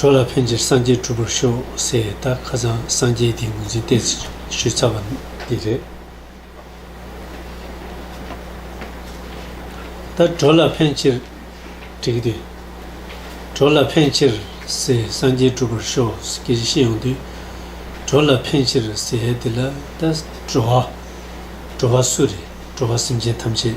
གྲོ་ལ་ཕན་ཕྱིར་སངས་རྒྱས་གྲུབ་པར་ཤོག་ཟེར་ཡས་ད་ཁ་ཚང་སངས་རྒྱས་དེའི་ངོས་འཛིན་གཏད་ཞུས་ཚར་བ་འདི་རེད། ད་གྲོ་ལ་ཕན་ཕྱིར་བྲིས་དེ། གྲོ་ལ་ཕན་ཕྱིར་ཟེར་སངས་རྒྱས་གྲུབ་པར་ཤོག་ཟེར་གྱི་ཤེས་ཡོང་དུས། གྲོ་ལ་ཕན་ཕྱིར་ཟེར་ཡས་འདི་ལ་ད་བྲོ་བ། བྲོ་བ་སུ་རེད་བྲོ་བ་སེམས་ཅན་ཐམས་ཅད།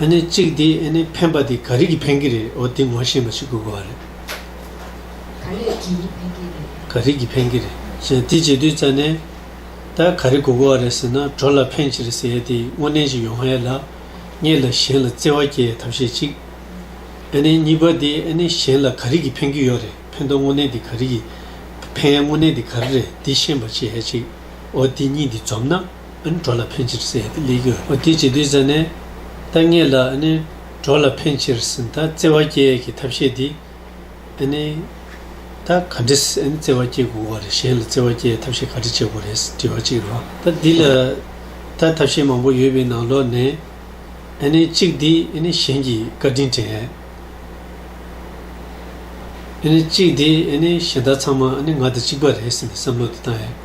ཨ་ནི་གཅིག་དེ་ཨ་ནི་འཕེན་པ་དེ་ག་རིགས་ཀྱི་འཕེན་གྱི་རེད་འོ་དེ་ངོ་ཤེས་པ་ཞིག་དགོས་གོ་རེད། ག་རེད་ཀྱི་འཕེན་གྱི་རེད། ག་རིགས་ཀྱི་འཕེན་གྱི་རེད་ཟེར་དེ་བྱེད་དུས་རྩ་ནས། ད་ག་རེ་དགོས་གོ་བ་རེད་ཟེར་ན་གྲོ་ལ་འཕེན་ཕྱིར་ཟེར་ཡས་དེ་དངོས་གནས་ཅི་ཡོང་ཨེ་ལགས། གཉིས་ལ་གཞན་ལ་བརྩེ་བ་སྐྱེ་ཡས་ཐབས་ཤེས་གཅིག། ཨ་ནི་གཉིས་པ་དེ་ཨ་ནི་གཞན་ལ་ག་རིགས་ཀྱི་འཕེན་གྱི་ཡོད་རེད་འཕེན་ཐོག་དངོས་གནས་དེ་ག་རིགས་ཀྱི། འཕེན་ཡས་དངོས་གནས་དེ་ག་རེ་རེད་འདི་ཤེས་པ་བྱེད་ཡས་གཅིག་འོ་དེ་གཉིས་དེ་འཛོམས་ན། འགྲོ་ལ་ཕན་ཕྱིར་སེལ་ཏེ་ལས་གྱུར། འོ་དེ་ཇི་དུས་ཟེར་ནས། ཐ་སྙད་ལ། འགྲོ་ལ་ཕན་ཕྱིར་སེལ་ད་བརྩེ་བ་སྐྱེ་གི་ཐབས་ཤེས་འདི། ད་ག་འདྲི་བརྩེ་བ་སྐྱེ་དགོས་བ་རེད་གཞན་ལ་བརྩེ་བ་སྐྱེ་ཐབས་ཤེས་ག་འདྲི་བྱེད་དགོས་རེད་དྲི་བ་གཅིག་རོ། ད་འདི་ལ། ད་ཐབས་ཤེས་མང་པོ་ཡོད་པའི་ནང་ལོག་ནས། གཅིག་འདི་གཞན་གྱི་བཀའ་དྲིན་དྲན། གཅིག་འདི་གཞན་དག་ཚང་མ་ང་དང་གཅིག་པ་རེད་ཟེར་ནས་བསམ་བློ་དེ་བཏང་ཡ།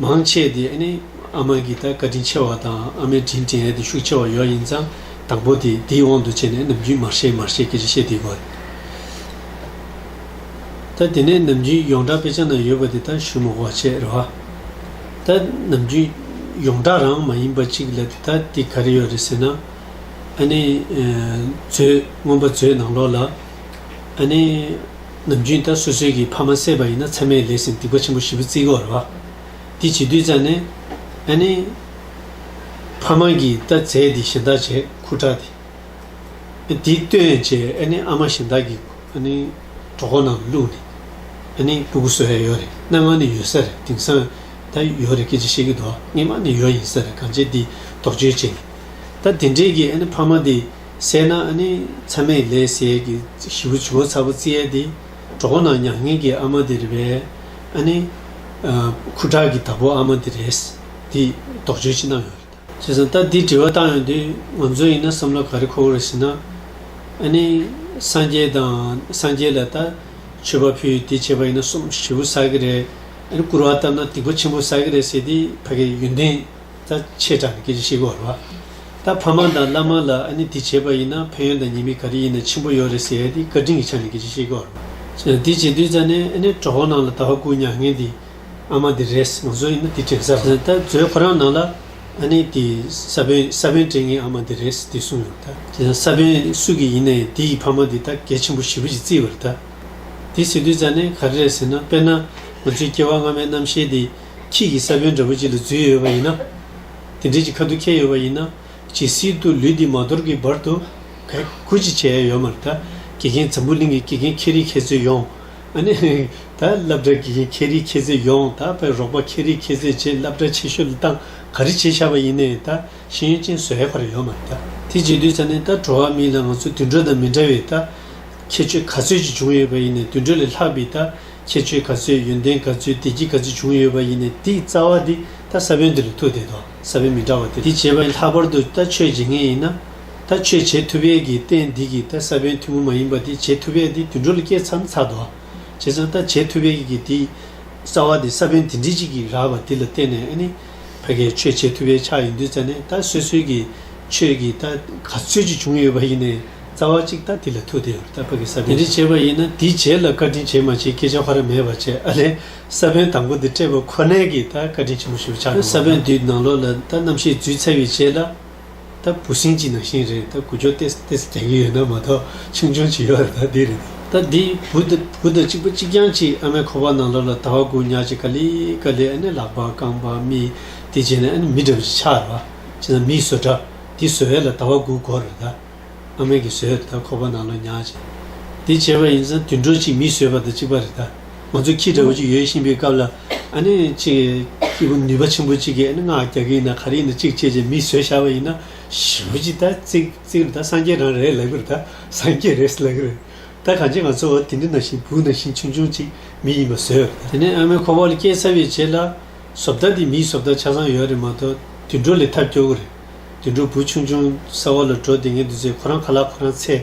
མང་ཆེ་དེ་ནི་ཨ་མ་གིས་ད་བཀའ་དྲིན་ཆེ་བ་དང་ཨ་མའི་དྲིན་དྲན་ཡས་དེ་ཤུགས་ཆེ་བ་ཡོད་ཡིན་ཙང་དང་པོ་དེ་དེའི་དབང་དུ་བྱས་ནས་ནམ་རྒྱུན་མར་ཤེས་མར་ཤེས་ཀྱི་རེ་ཤེས་དེ་དགོས། ད་དེ་ནས་ནམ་རྒྱུན་ཡོངས་གྲགས་དཔེ་ཆ་ན་ཡོད་པ་དེ་དག་ཞུ་མི་དགོས་ཆེད་རེད་བ། ད་ནམ་རྒྱུན་ཡོངས་གྲགས་རང་མ་ཡིན་པ་གཅིག་ལ་དེ་དག་དེ་ག་རེ་ཡོད་རེད་ཟེར་ན། ཨ་ནེ། མཛོད། སྔོན་པ་མཛོད་ནང་ལོགས་ལ་ཨ་ནེ། ནམ་རྒྱུན་ལྟར་སོ་སོའི་གི་ཕ་མ་བསད་པ་ཡིན་ན་ཚད་མས་ལས་ཟིན་སྡིག་པ་ཆེན་པོ་བཞི་པོ་བརྩི་དགོས་རེད་བ། དེ་བྱེད་དུས་ཙང་ནས་ཨ་ནེ། ཕ་མ་གི་ལྟ་ཚད་དེ་གཞན་དག་བྱེད་ཁུ་དྲག་དེ། ཨ་དེ་ལྟོས་བྱས་ཨ་ནེ་ཨ་མ་གཞན་དག་གི་ཨ་ནེ་གྲོགས་པོ་ནང་དུ་བླུགས་ནས་ཨ་ནེ་སྐུ་གུ་བཟོ་ཡ་ཡོད་རེད་སྣ་ང་ནས་ཡོད་ས་རེད་དེང་སང་ད་ཡོད་རེད་སྐད་ཆ་བཤད་གི་འདུག་ཨ་ངེད་མ་ནས་ཡོད་ཡིན་ས་རེད་གང་བྱས་དེ་དོགས་གཅོད་བྱས་ནས་ད་དེ་འདྲས་གི་ཨ་ནེ་ཕ་མ་དེ། སད་ན་ཨ་ནི་ཚ་མེད་ལས་ཟས་ཀྱི་བཞི་བོ་བྱིའུ་ཚ་བོ་རྩི་ཡལ་འདི། གྲོགས་པོ་ནང་མྱ་ངན་གྱི་ཨ་མ་འདི་རེད་པས། ཨ་ནི། ཁུ་ཁྲག་གི་བདག་པོ་ཨ་མ་འདི་རེད། འདིས་དོགས་གཅོད་ཅི་གནང་ཡོང་རེད། བྱས་ཙང་ལྟ་འདིས་དྲི་བ་བཏང་ཡོང་དུས་ང་ཚོ་ཡིན་ན་བསམ་བློ་ག་རེ་འཁོར་རེད་ཟེར་ན། ཨ་ནི། སངས་རྒྱས་དང་སངས་རྒྱས་ལ་ལྟ། མཆོད་པ་ཕུལ་དེ་བྱས་པ་ཡིན་ན་སོམས་བཞི་བོ་ཟ་གི་རེད། ཨ་ནི་བསྐུར་བ་བཏབ་ན་སྡིག་པ་ཆེན་པོ་ཟ་གི་རེད་ཟེར་དུས་ཕ་གི་ཡོན་ཏན། ད་ཆེས་དྲག་ནི་སྐད་ཅིག་ཤི་གོ་ར། ད་ཕ་མ་དང་བླ་མ་ལ་ཨ་ནི་དེ་བྱས་པ་ཡིན་ན་ཕན་ཡོན་དང་ཉེས་མིག་ག་རེ་ཡིན་ན་ཆེན་པོ་ཡོད་རེད་ཟེར་དེ་བཀའ་དྲིན་གྱི་ཆ་ནི་སྐད་ཅིག་ཤི་གོ་ར། དེ་བྱེད་དུས་ད་ནི་ཨ་ནི་གྲོགས་པོ་རྣམས་ལ་ད་བ་ཀུ་མྱ་ངན་དེ་ཨ་མ་དེ་རེད་ང་ཚོ་ཡིན་ན་དེ་དྲན་ས་རེད་ད་བཟོད་ཁོ་རང་ནང་ལ་ཨ་ནི་དེ་ས་བོན་ས་བོན་དྲན་ངའི་ཨ་མ་དེ་རེད་དེ་གསུངས་ཡོང་ད། དེ་ན་ས་བོན་སུ་གི་ཡིན་ན་ཡང་དེ་ཡི་ཕ་མ་དེ་ད་གལ་ཆེན་པོ་ཞི་བུ་ཞིག་བརྩི་བར་ད། དེ་བྱེད་དུས་ད་ནི་ག་རེ་རེད་ཟེར་ན་དཔེར་ན་ང་ཚོའི་སྐྱེ་བ་སྔ་མའི་རྣམ་ཤེས་དེ། ཁྱེད་ཀྱིས་ས་བོན་འདྲ་པོ་གཅིག་ལ་འཛུལ་ཡོད་པ་ཡིན་ན། དེ་འདྲའི་གཅིག་ཁ་ཐུག་ཁྱེར་ཡོད་པ་ཡིན་ན། ཇི་སྲིད་དུ་ལུས་འདི་མ་དོར་གྱི་བར་དུ། གལ་ཁུར་ཅིག་བྱས་ཡོད་མ་རེད་ད། དགེ་རྒན་འཛམ་བུ་གླིང་གི་དགེ་རྒན་མཁས་རིགས་མཁས་བཙུན་ཡོངས། ཨ་ནི། ད་སླབ་གྲྭའི་དགེ་རྒན་མཁས་རིགས་མཁས་བཙུན་ཡོངས་ད་བའི་རོགས་པ་མཁས་རིགས་མཁས་བཙུན་བཅས་སླབ་གྲྭ་ཆེ་ཤོས་ལ་སྟངས་ག་རེ་བྱེད་ཤག་པ་ཡིན་ནའི་ད་ཤེས་ཡོན་ཅན་བཟོས་ཁར་ཡོད་མ་རེད་ད། དེ་བྱེད་དུས་ས་ནས་ད་བྲོ་བ་མིན་ལ་ང་ཚོ་དུད་འགྲོ་དང་མི་འདྲ་བས་ད། ཁྱད་ཆོས་ག་ཚོད་ཅིག་བྱུང་ཡོད་པ་ཡིན་ནའི་དུད་འགྲོ་ལས་ལྷག་པའི་ད། ཁྱད་ཆོས་ག་ཚོད་ཡོན་ཏན་ག་ཚོད་བདེ་སྐྱིད་ག་ཚོད་བྱུང་ཡོད་པ་ཡིན་ནས་དེའི་རྩ་བ་དེ་ད་ས་བོན་འདིར་ཐུག་བསྡད་དོག་ས་བོན་མི་འདྲ་བ་དེ་དེ་བྱེད་པ་ཡིན་ལྷག་པར་དུ་ད་ཆོས་བྱེད་མཁན་ཡིན་ན། ད་ཆོས་བྱེད་ཐུབ་ཡས་ཀྱི་རྟེན་འདི་གིས་ད་ས་བོན་ཐུན་མོང་མ་ཡིན་པ་དེ་བྱེད་ཐུབ་ཡས་དེ་དུད་འགྲོ་ལ་སྐྱེས་མཚམས་ཚར་དོག་བྱེད་ཙང་ད་བྱེད་ཐུབ་ཡས་ཀྱི་དེའི་རྩ་བ་དེ་ས་བོན་དེ་འདྲི་གཅིག་གིས་རགས་པ་དེ་ལ་བརྟེན་ནས་ཨ་ནི་ཕ་གས་ཆོས་བྱེད་ཐུབ་ཡས་ཆགས་ཡིན་དུས་ཙ་ནས་ད་སོད་སོད་ཀྱི་ཆོས་ཀྱིས་ད་ག་ཚོད་ཅིག་བྱུང་ཡོད་པ་ཡིན་ནས། རྩ་བ་གཅིག་ལྟ་འདི་ལ་ཐུག་བསྡད་ཡོད་པ་ལྟར་ཕ་གིས་ས་པཎ་ཞེས་བྱ་བ་ཡིན་ན་འདིས་རྗེས་ལ་བཀའ་དྲིན་ཇི་མ་ཇི་སྐད་ཆ་ཧོར་ར་མེད་པར་བྱས་ཨ་ལས་ས་པཎ་དང་པོ་འདི་སྤྲད་པ་ཁོ་ནའི་གིས་ད་བཀའ་དྲིན་ཆེན་པོ་ཞུ་བ་ཆགས་འགྲོ་ས་པཎ་དུས་ནང་ལོག་ལ་ད་རྣམ་ཤེས་རྫུས་ཚར་བའི་རྗེས་ལ་ད་བུ་སྲིང་གཅིག་ནང་བཞིན་རེད་ད་གུ་ཅོ་ཏེ་ཏེ་སུ་རྒྱག་གི་ཡོད་ན་མ་གཏོགས་ཆུང་ཆུང་བྱེད་ཡོད་རེད་ད་འདི་རེད་ད་འདི་བུ་ད་བུ་ད་གཅིག་པ་གཅིག་རྐྱང་གཅིག་ཨ་མའི་ཁོག་པ་ནང་ལོག་ལ་ད་བ་དགུ་ཉག་གཅིག་ཀ་ལི་ཀ་ལི་ཨ་ནི་ལག་པ་རྐང་པ་མི་དེ་བྱས་ནས་ཨ་ནི་མི་འདྲ་བ་ཅིག་ཆགས་ར་བ་བྱས་ན་མིའི་བཟོ་འདྲ་འདི་བཟོ་ཡས་ལ་ད་བ་དགུ་གོ་རེད་ད། ཨ་མེས་ཀྱིས་ཟོས་དེ་དག་ཁོ་པ་ནང་ལོག་ཉག་ཅིག་འདི་བྱས་པ་ཡིན་ཙང་དུད་འགྲོ་གཅིག་མིས་ཟོས་པ་དང་གཅིག་པ་རེ་ད་ང་ཚོ་ཁྱི་འདྲ་བོ་གཅིག་ཡོད་བཞིན་པའི་སྐབས་ལ་ཨ་ནེ་གཅིག་སྐྱིད་པོ་ནུས་པ་ཆེན་པོ་གཅིག་གིས་ཨ་ནེ་སྔགས་རྒྱག་གི་ཡིན་ན་ག་རེ་ཡིན་ན་གཅིག་བཅད་བཅད་མིས་ཟོས་བཞག་པ་ཡིན་ན་ཞི་བོ་གཅིག་ད་བརྩིགས་བརྩིགས་རེ་ད་སངས་རྒྱས་རང་རེད་ལབ་གི་རེ་ད་སངས་རྒྱས་རེད་ལབ་གི་རེ་ད་གང་ཅི་ང་ཚོ་དེ་འདྲི་ན་ཞིག་བུ་ན་ཞིག་ཆུང་ཆུང་གཅིག་མི་ཡིན་པ་ཟོས་རེ་ད། དེ་ནས་ཨ་མེས་ཁོ་པ་ལ་སྐྱེལ་ཚར་བའི་རྗེས་ལ། ཟོབ་ལྟ་འདི་མིའི་ཟོབ་ལྟ་ཆ་ཚང་ཡོད་རེད་མ་གཏོགས་དུད་འགྲོ་ལས་ཐབས་སྐྱོ་གི་རེད། དུད་འགྲོ་བུ་ཆུང་ཅུང་ཟད་བར་ལ་འགྲོ་དེ་ངས་འདི་ཚོས་ཁོ་རང་ཁ་ལག་ཁོ་རང་ཚད་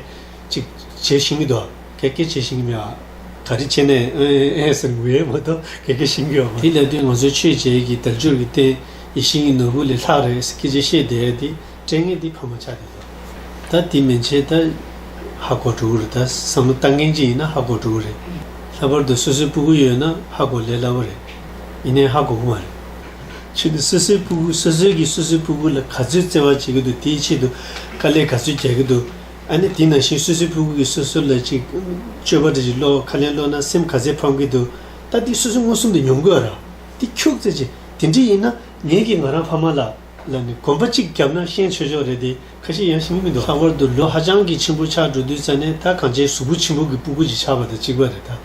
ཅིག་བྱེད་བཞིན་གྱི་འདུག་ག་གེ་བྱེད་བཞིན་གྱི་མེད་ཨ། ག་རེ་བྱེད་ནས་ཨེ་ཨེ་ཨེ་ཟེར་གི་འེ་མ་གཏོགས་ག་གེ་བྱེད་ཀྱི་ཡོད་མ། དེ་ལས་དོན་ང་ཚོའི་ཆོས་བྱེད་ཀྱི་དལ་འབྱོར་གྱི་རྟེན་ཡིད་བཞིན་གྱི་ནོར་བུ་ལས་ལྷག་རེད་ཟེར་གི་རྗེས་ཤེས་བསྡད་དེ་སྤྲེལ་ངན་འདི་ཕ་མ་ཆགས་བསྡད་འདུག་ད་དེ་མི་བྱེད་ད་ཧ་གོ་འགྲོ་གི་རེད་ད་བསམ་བློ་ལྟ་ངན་ཅིག་ཡིན་ན་ཧ་གོ་འགྲོ་གི་རེད་ལྷག་པར་དུ་སོ་སོའི་སྤུ་གུ་ཡོད་ན་ཧ་གོ་ལས་སླ་བོ་རེད་ཡིན་ནའི་ཧ་གོ་གི་མ་རེད། ཆེད་དུ་སོ་སོའི་ཕུ་གུ་སོ་སོའི་གིས་སོ་སོའི་ཕུ་གུ་ལ་ག་ཚོད་བརྩེ་བ་བྱེད་ཀྱི་འདུག་དེའི་ཆེད་དུ་དཀའ་ལས་ག་ཚོད་རྒྱག་གི་འདུག་ཨ་ནི་དེ་ནང་བཞིན་སོ་སོའི་ཕུ་གུ་གིས་སོ་སོ་ལ་ཅིག་སྤྱོད་པ་འདྲ་ཅིག་བློ་ཁ་ལེན་བློ་སྣ་སེམས་ག་ཚད་ཕམ་གྱི་འདུག་ད་དེ་སོ་སོ་མངོན་སུམ་དུ་མྱོང་དགོས་ར་དེ་ཁྱུག་ཙེ་ཅིག་དེ་འདྲས་ཡིན་ན་ངེད་ཀྱིས་ང་རང་ཕ་མ་ལ་ལ་ནི་གོམ་པ་གཅིག་བརྒྱབ་ན་ཤེས་ཆོས་ཆོག་རེད་དེ། ཁ་ཞེ་ཡང་ཞིམ་གྱི་མི་འདུག་ལྷག་པར་དུ་ལོ་ཧ་ཅང་གི་ཆེན་པོ་ཆགས་འགྲོ་དུས་ཙཱ་ནས་ད་གང་བྱས་གཟུགས་པོ་ཆེན་པོ་གི་སྤུ་གུ་ཅིག་ཆགས་པ་དང་གཅིག་པ་རེད་ད།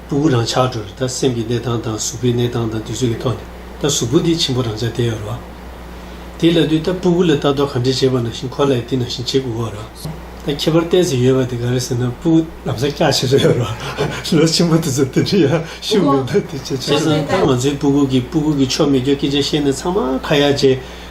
སྤུ་གུ་རང་ཆགས་འགྲོ་རེད་ད་སེམས་ཀྱི་གནས་སྟངས་དང་གཟུགས་པོའི་གནས་སྟངས་དང་དུས་ཚོད་ཀྱི་ཐོག་ནས་ད་གཟུགས་པོ་དེ་ཆེན་པོ་རང་ཆགས་བསྡད་ཡོད་རོགས། དེ་ལ་དུས་ད་སྤུ་གུ་ལ་ལྟ་རྟོག་ག་འདྲས་བྱས་པ་ནང་བཞིན་ཁོ་ལ་ཡི་དེ་ནང་བཞིན་བྱེད་དགོས་འོ་རོགས། ད་ཁྱད་པར་བསྟན་ཟིན་ཡོད་པ་དེ་ག་རེ་ཟེར་ན་སྤུ་གུ་ལམ་སང་སྐྱག་བྱེད་ས་ཡོད་རོགས། ལོ་ཆེན་པོ་དེ་ཚོ་དེ་འདྲའི་ཡང་ཤུགས་མེད་མདོག་དེ་བྱེད་ཆོག་ཟེར། བྱས་ཙང་ད་ང་ཚོའི་སྤུ་གུ་གི་སྤུ་གུ་གི་ཆོ་མེད་ཀྱོ་སྐད་ཆ་བཤད་ནས་ཚང་མ་ཁ་ཡག་བྱས།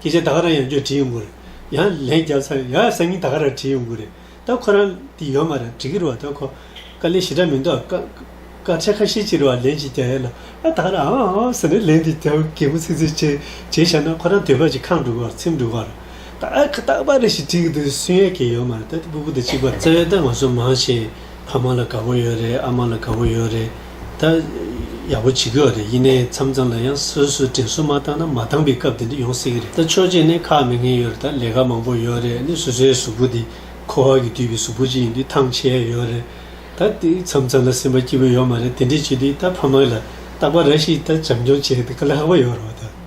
ཁྱེད་ཅག་ད་ག་རང་ཡང་རྒྱུད་བྲིས་ཡོང་གི་རེད་ཡང་ལན་རྒྱབ་ཚར་ཡ་སང་ཉིན་ད་ག་རང་བྲིས་ཡོང་གི་རེད་ད་ཁོ་རང་དེ་ཡོད་མ་རེད་བྲིས་ཀྱི་རེད་བ་ད་ཁོ་ཀ་ལས་ཞེ་དྲག་མི་འདུག་ཨ་ཀ་ཁ་ཁྲལ་ཁ་ཤས་ཅིག་རེད་བ་ལན་ཅིག་རྒྱབ་ཡ་ལ་ད་ག་རང་ཨང་ཨང་ཟེར་ནས་ལན་དེ་རྒྱབ་གད་མོ་ཚིག་ཚིག་བྱས་བྱས་བཞག་ན་ཁོ་རང་དུས་བབ་ཀྱི་ཁང་འགྲུལ་བར་ཚེམས་འགྲུལ་བར་ད་ཨ་ཁ་རྟག་པ་རེད་ཞེས་བྲིས་ཀྱི་འདུག་སུན་ཡལ་གྱི་ཡོད་མ་རེད་ད་དེ་པུ་གུ་དང་གཅིག་པ་རེད། རྩ་བའི་ཏང་ང་ཚོ་མང་ཞིང་ཕ་མ་ལ་དགའ་པོ་ཡོད་རེད་ཨ་མ་ལ་དགའ་པོ་ཡོད་རེད་ད། ཡག་པོ་བྱེད་ཀྱི་ཡོད་རེད་ཡིན་ནའི་མཚམས་མཚམས་ལ་ཡང་སོ་སོས་དྲིན་གསོ་མ་བཏང་ན་མ་བཏང་པའི་སྐབས་དེ་འདྲ་ཡོང་སྲིད་ཀྱི་རེད་ད་ཆོས་རྗེས་ནས་ཁག་མི་ངན་ཡོད་རེད་ད་ལས་ཀ་མང་པོ་ཡོད་རེད་ནས་སོ་སོའི་གཟུགས་པོ་དེ་ཁོ་བ་གིས་བསྡུས་པའི་གཟུགས་པོ་ཅིག་ཡིན་དུས་ཐང་ཆད་ཡོད་རེད་ད། དེ་མཚམས་མཚམས་ལ་སེམས་པ་སྐྱིད་པོ་ཡོད་མ་རེད་དེ་འདྲས་བྱེད་དུས་ད་ཕ་མ་ལ་རྟག་པ་ར་ཞིག་ད་བྱམས་སྐྱོང་བྱེད་ཀྱི་ལྷག་པ་ཡོད་རེད་ད།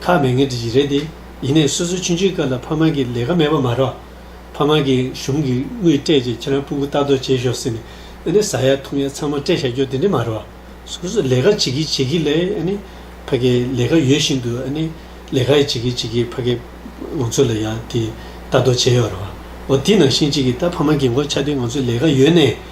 ཐག་མེད་ངན་དེ་ཡི་རེད་དེ། ཡིན་ནས་སོ་སོའི་ཆུན་ཆུན་སྐབས་ལ་ཕ་མ་གིས་ལས་ཀ་མེད་པ་མ་རོགས། ཕ་མ་གིས་གཞུང་གིས་དངུལ་སྤྲད་རྗེས་ཁྱེད་རང་སྤུན་དགུ་ལྟ་རྟོག་བྱེད་ཤོག་ཟེར་ནས་ཨ་ནི་ཟ་ཡ་འཐུང་ཡ་ཚང་མ་སྤྲད་བཞག་རྒྱུ་དེ་འདྲས་མ་རོགས། སོ་སོས་ལས་ཀ་བྱེད་ཀྱིས་བྱེད་ཀྱིས་ལས་ཨ་ནི་ཕ་གིས་ལས་ཀ་ཡོད་བཞིན་དུ་ཨ་ནི་ལས་ཀ་ཡི་བྱེད་ཀྱིས་བྱེད་ཀྱིས་ཕ་གིས་ང་ཚོ་ལ་ཡ་དེ་ལྟ་རྟོག་བྱེད་ཡོད་རོགས། འོ་དེ་ནང་བཞིན་གཅིག་གིས་ད་ཕ་མ་གིས་མགོ་ཆགས་དུས་ང་ཚོས་ལས་ཀ་ཡོད་ནས་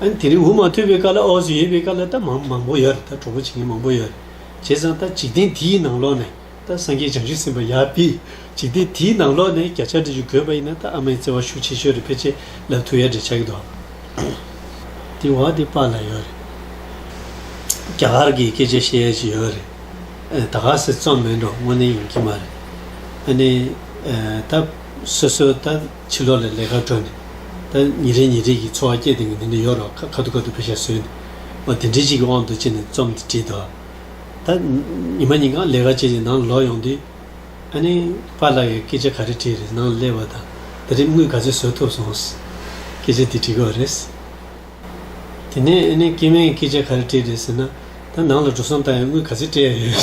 དེ་རིང་འུ་མ་ཐོས་པའི་སྐབས་ལ་འོག་སུ་ཡོད་པའི་སྐབས་ལ་ད་མང་མང་པོ་ཡོད་རེད་ད་གྲོགས་པོ་བྱེད་མཁན་མང་པོ་ཡོད་རེད། བྱས་ཙང་ད་འཇིག་རྟེན་དེའི་ནང་ལོགས་ནས་ད་སངས་རྒྱས་བྱང་ཆུབ་སེམས་དཔའ་ཡག་པི། འཇིག་རྟེན་དེའི་ནང་ལོགས་ནས་བརྒྱ་ཆ་དྲུག་ཅུ་དགོས་པ་ཡིན་ན་ད་ཨ་མའི་བརྩེ་བ་ཤུགས་ཆེ་ཤོས་རེད་ཕལ་ཆེ་ལབ་ཐུབ་ཡག་འདྲེ་ཆགས་ཀྱི་འདུག་དེ་འོག་དེ་པ་ལ་ཡོད་རེད། རྒྱ་གར་གྱི་སྐད་ཆ་བཤད་ཡག་ཅིག་ཡོད་རེད། ད་ག་སེ་རྩོམ་མེད་འགྲོ་དངོས་གནས་ཡོང་གྱི་མ་རེད། ཨ་ནི། ད་སོ་སོ་ད། ཕྱི་ལོགས་ལས་ལས་ཀར་བྲོས་ནས། ད་ཉིན་རེ་ཉིན་རེ་ཡི་འཚོ་བ་སྐྱེལ་དེ་ངས་འདི་འདྲ་ཡོད་རོགས་ཁ་ཁ་ཐུག་ཁ་ཐུག་ཕེ་ཤ་བཟོས་ནས། མ་དེ་འདྲའི་ཞིག་གི་དབང་དུ་བྱས་ནས་རྩོམ་འདི་བྲིས་འདུག་ད། ཉི་མ་ཉིན་གང་ལས་ཀ་བྱས་ནས་ནང་ལ་ལོག་ཡོང་དུས། ཨ་ནེ། པཱ་ལགས་ཡིས་སྐད་ཆ་ག་རེ་དྲིས་རེད་ནང་ལ་སླེབས་བ་དང་ད་རེབ་དངུལ་ག་ཚོད་བཟོས་ཐུབ་སོང། སྐད་ཆ་འདི་དྲིས་དགོས་རེད། དེ་ནས་ཨ་ནེ་སྐལ་མེད་ཀྱིས་སྐད་ཆ་ག་རེ་དྲིས་རེད་ཟེར་ན། ད་ནང་ལ་འགྲོ་སོང་བཏང་ཡང་དངུལ་ག་ཚོད་སྤྲད་ཡ་ཡོད།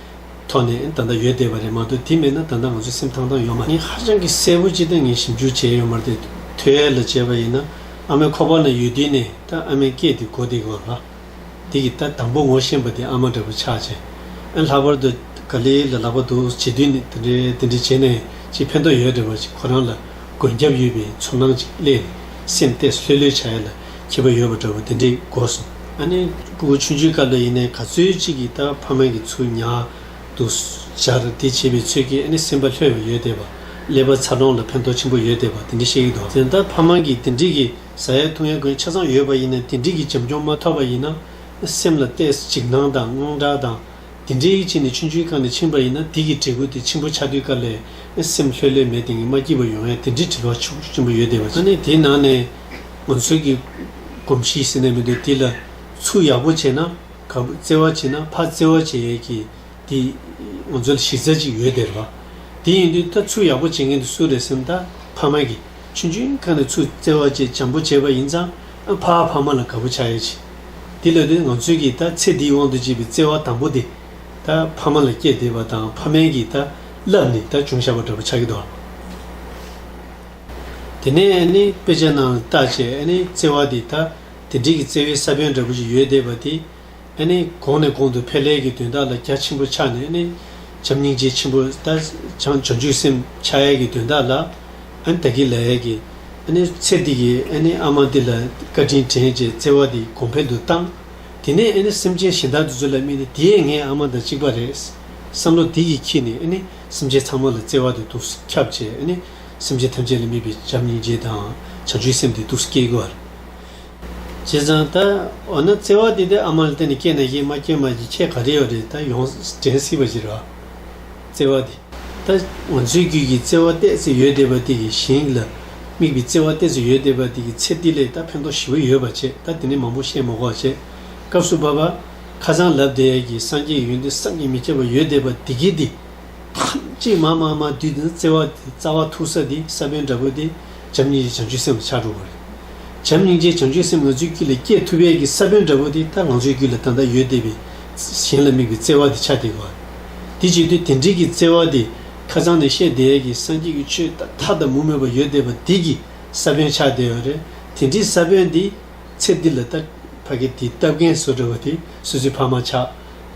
ཐོག་ནས་ད་ལྟ་ཡོད་བསྡད་པ་རེད་མ་གཏོགས་དེ་མེད་ན་ད་ལྟ་ང་ཚོའི་སེམས་ཐང་ཐང་ཡོད་མ་རེད། ཧ་ཅང་གི་གསལ་བོ་ཅིག་ད་ངས་ཞིབ་འཇུག་བྱས་ཡོད་མ་རེད་ཐོས་ཡས་ལ་བྱས་པ་ཡིན་ན་ཨ་མའི་ཁོག་པ་ན་ཡོད་དུས་ནས་ད་ཨ་མའི་སྐད་དེ་གོ་བསྡད་དགོས་ལ། དེ་གི་ད་དང་པོ་ངོ་ཤེས་པ་དེ་ཨ་མ་འདྲ་བོ་ཆགས་རྗེས་ཨེ་ལྷག་པར་དུ་ག་ལེ་ལ་ལག་པ་འདུག་བྱེད་དུས་ནས་དེ་འདྲའི་དེ་འདྲའི་བྱས་ནས་ཅི་ཕན་ཐོག་ཡོད་འདྲ་བ་ཅིག་ཁོ་རང་ལ་མགོན་སྐྱབས་ཡོད་པའི་ཚོར་སྣང་ཅིག་སླེས་ནས་སེམས་གཏད་སུ་ལྷོད་ལྷོད་བྱ་ཡས་ལ་ཁྱི་པ་ཡོད་པ་འདྲ་བོ་དེ་འདྲས་གོ་སོང། ཨ་ནེ། སྤུ་གུ་ཆུང་ཆུང་སྐབས་ལ་ཡིན་ནའི་ག་ཚོད་ཅིག་གིས་ད་ཕ་མ་གི་ཚུར་ཉར་འདུག་ཞར་འདེད་བྱེད་པའི་ཚོད་ཀྱིས་ཨ་ནེ་སེམས་པ་ལྷོད་པ་ཡོད་བསྡད་པ། ཀླད་པ་ཚ་གྲང་ལ་ཕན་ཐོགས་ཆེན་པོ་ཡོད་བསྡད་པ་དེ་འདྲས་བཤད་ཀྱི་འདུག་དེ་ལྟར་ཕ་མ་གིས་དེ་འདྲས་ཀྱི་བཟའ་ཡ་འཐུང་ཡ་དགོས་ཆ་ཚང་ཡོད་པ་ཡིན་ནའི་དེ་འདྲས་ཀྱི་བྱམས་སྐྱོང་མ་ཐོབ་པ་ཡིན་ན། སེམས་ལ་བལྟས་ཚེ་འཇིགས་སྣང་དང་དངངས་སྐྲག་དང། འདི་འདྲའི་ཡིད་ཆེས་ནི་ཆུང་ཆུང་གང་ནས་ཕྱིན་པ་ཡིན་ན་དེ་གི་དྲེགས་བཀོད་དེ་ཆེན་པོ་ཆགས་དུས་དཀའ་ལས་ཨེ་སེམས་ལྷོད་ལྷོད་མེད་དེ་ངས་མ་སྐྱིད་པ་ཡོང་ཨེ་དེ་འདྲའི་དྲི་བ་ཆུ་བོ་ཆེན་པོ་ཡོད་བསྡད་པ་ཅིག་ཨ་ནི་དེ་ནང་ནས་ང་ཚོའི་གི་གོམས་གཤིས་ཟེར་ནས་མི་འདུག་དེ་ལ་ཚུར་ཡག་པོ་བྱས་ན་ག་བུ་བརྩེ་བ་བྱས་ན་ཕ་བརྩེ་བ་བྱས་ཡས་ཀྱི་དེ་ང་ཚོ་ལ་གཞི་རྩ་ཅིག་ཡོད་བསྡད་རོགས། དེ་ཡིན་དུས་ད་ཚུར་ཡག་པོ་བྱེད་མཁན་དེ་སུ་རེད་སེམས་ད་ཕ་མ་གི། ཆུ་འཇུ་མཁན་ལ་ཆུ་བཙལ་བ་བཅས་བྱམས་པོ་བྱས་པ་ཡིན་ཙང་ཕ་ཕ་མ་ལ་དགའ་པོ་ཆགས་ཡོད་ཅིང། དེ་ལས་ལྡོན་ང་ཚོས་ཀྱིས་ད་ཚེ་འདིའི་དབང་དུ་བྱས་པའི་བརྩེ་བ་དང་པོ་དེ། ད་ཕ་མ་ལ་བསྐྱེད་བསྡད་པ་དང་ཕ་མའི་གིས་ད་བསླབས་ནས་ད་ཅུང་ཤ་བ་འདྲ་པོ་ཆགས་ཀྱི་འདུག་དེ་ནས་ཨ་ནེ་དཔེ་ཆ་ནང་ལ་བལྟ་བྱས་ཨ་ནེའི་བརྩེ་བ་དེ་ད་དེ་འདྲིས་ཀྱི་བརྩེ་བའི་ས་བོན་འདྲ་པོ་ཞིག་ཡོད་བསྡད་པ་དེ། ནི། གོང་ནས་གོང་དུ་ཕལ་ལེར་གྱི་དོན་དག་ལ་རྒྱ་ཆེན་པོ་ཆགས་ནས་ནི། བྱམས་སྙིང་རྗེ་ཆེན་པོ་ལྟར་བྱང་ཆུབ་སེམས་ཕྱག་ཡས་ཀྱི་དོན་དག་ལ། ད་གི་ལ་ཡས་ཀྱི། ནི། ཚེ་འདི་ཀྱི་ནི་ཨ་མ་འདི་ལ་བཀའ་དྲིན་དྲན་བཅས་བརྩེ་བ་འདི་གོང་འཕེལ་དུ་བཏང། དེ་ནས་ནི་སེམས་ཅན་གཞན་དག་འདི་ཚོ་ལ་སྨྲས་ནས་དེས་ངས་ཨ་མ་དང་གཅིག་པ་རེད། བསམ་བློ་དེ་ཡིས་ཁྱི་ནས་ནི་སེམས་ཅན་ཚང་མ་ལ་བརྩེ་བ་འདི་ཐུགས་སུ་ཁྱབ་བཅས་ནི། སེམས་ཅན་ཐམས་ཅད་ལ་སྨིན་པའི་བྱམས་སྙིང་རྗེ་དང་བྱང་ཆུབ་སེམས་འདི་ཐུགས་སུ་སྐྱེ་དགོས། བྱས་ཙང་ད། འོ་ན་བརྩེ་བ་འདི་དེ་ཨ་མ་ལ་བརྟེན་ནས་སྐྱེས་ན་སྐྱེས་མ་སྐྱེས་མ་ཀྱི་ཁྱད་ག་རེ་ཡོད་རེད་ད་ཡོངས་དྲན་སྲིད་པ་ཞིག་རེད། བརྩེ་བ་འདི་ད། ང་ཚོའི་རྒྱུད་ཀྱི་བརྩེ་བ་གཏད་ཚེ་ཡོད་བསྡད་པ་དེ་གི་ཞིང་ལ་དམིགས་པའི་བརྩེ་བ་གཏད་ཚེ་ཡོད་བསྡད་པ་དེ་གི་ཚེ་འདི་ལས་ད་ཕན་ཐོགས་ཞི་བ་ཡོད་པ་བྱེད་ད་དེ་ནས་མང་པོ་བཤད་མ་གོ་བྱེད། སྐབས་སུ་བབ། ཁ་རྩང་ལབ་བསྡད་ཀྱི་སངས་རྒྱས་ཡོན་ཏན་བསམ་གྱིས་མི་ཁྱབ་པ་ཡོད་བསྡད་པ་དེ་གི་འདི། ཐམས་ཅད་མ་མ་མ་དུས་འདི་ན་བརྩེ་བ་འདི་རྩ་བ་ཐུག་ས་འདི་ས་བོན་འདྲ་པོ་འདི། བྱམས་སྙིང་རྗེ་བྱང་ཆུབ་སེམས་ལ་ཆགས་འགྲོ་བ་རེད། བྱམས་སྙིང་རྗེ་བྱང་ཆུབ་སེམས་ང་ཚོའི་དཀྱིལ་ལ་སྐྱེས་ཐུབ་དཔལ་གྱི་ས་བོན་འདྲ་བོ་དེ་ད་ང་ཚོའི་རྒྱུད་ལ་ད་ལྟ་ཡོད་བསྡད་པའི་གཞན་ལ་དམིགས་པའི་བརྩེ་བ་དེ་ཆགས་བསྡད་དགོས། དེ་བྱེད་དུས་དེ་འབྲེལ་གྱི་བརྩེ་བ་དེ་ཁ་ཚང་ནས་བཤད་བསྡད་ཀྱི་སངས་རྒྱས་ཀྱི་ཆོས་ད་མཐའ་ད་མུ་མེད་པ་ཡོད་བསྡད་པ་དེ་གྱི་ས་བོན་ཆགས་བསྡད་ཡོད་རེད། དེ་འདྲའི་ས་བོན་དེ་ཚེ་འདི་ལ་ད་ཕ་གི་དེ་ལྟ་བརྒན་བཟོ་འདྲ་བ་དེ་སུས་སུའི་ཕ་མ་ཆགས།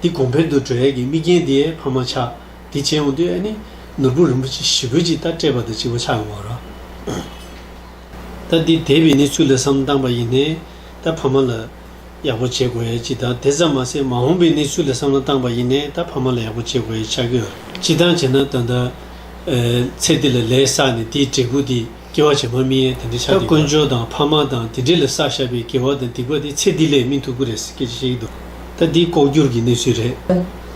དེ་གོང་འཕེལ་དུ་འགྲོ་ཡས་ཀྱི་དམིགས་རྐྱེན་དེའི་ཕ་མ་ཆགས། དེ་བྱས་འོང་དུས་ཨེ་ནི་ནོར་བུ་རིན་པོ་ཆེ་ཞི་རྒོལ་གྱིས་རྟ་སྤྲད་པ་དང་གཅིག་པ་ཆགས་ཡོང་བར་རོ། རྟ་འདི་དེད་པའི་གནས་ཚུལ་ལ་བསམ་བཏང་པ་ཡིན་ནའི་རྟ་ཕ་མ་ལ་ཡག་པོ་བྱེད་དགོས་ཡས་ཅི་དང་དེ་ཙམ་མ་ཟད་མ་འོངས་པའི་གནས་ཚུལ་ལ་བསམ་བློ་བཏང་པ་ཡིན་ནའི་རྟ་ཕ་མ་ལ་ཡག་པོ་བྱེད་དགོས་ཡས་ཆགས་ཀྱི་ཡོད་རེད། སྤྱི་བཏང་བྱས་ན་ད་ལྟ། ཚེ་འདི་ལ་ལས་བསགས་ནས་དེའི་འབྲས་བུ་དེ། སྐྱེ་བ་བྱེ་མ་མི་གཡེལ་དེ་འདྲའི་ཆ་དེ་དཀོན་མཆོག་དང་ཕ་མ་དང་དེ་འདྲས་ལ་བསགས་བཞག་པའི་དགེ་བ་དང་སྡིག་པ་དེ་ཚེ་འདི་ལས་སྨིན་ཐུབ་ཀྱི་རེད་ཟེར་སྐད་ཆ་བཤད་ཀྱི་འདུག་ད་འདི་ལྐོག་གྱུར་གྱི་གནས་ཚུལ་རེད་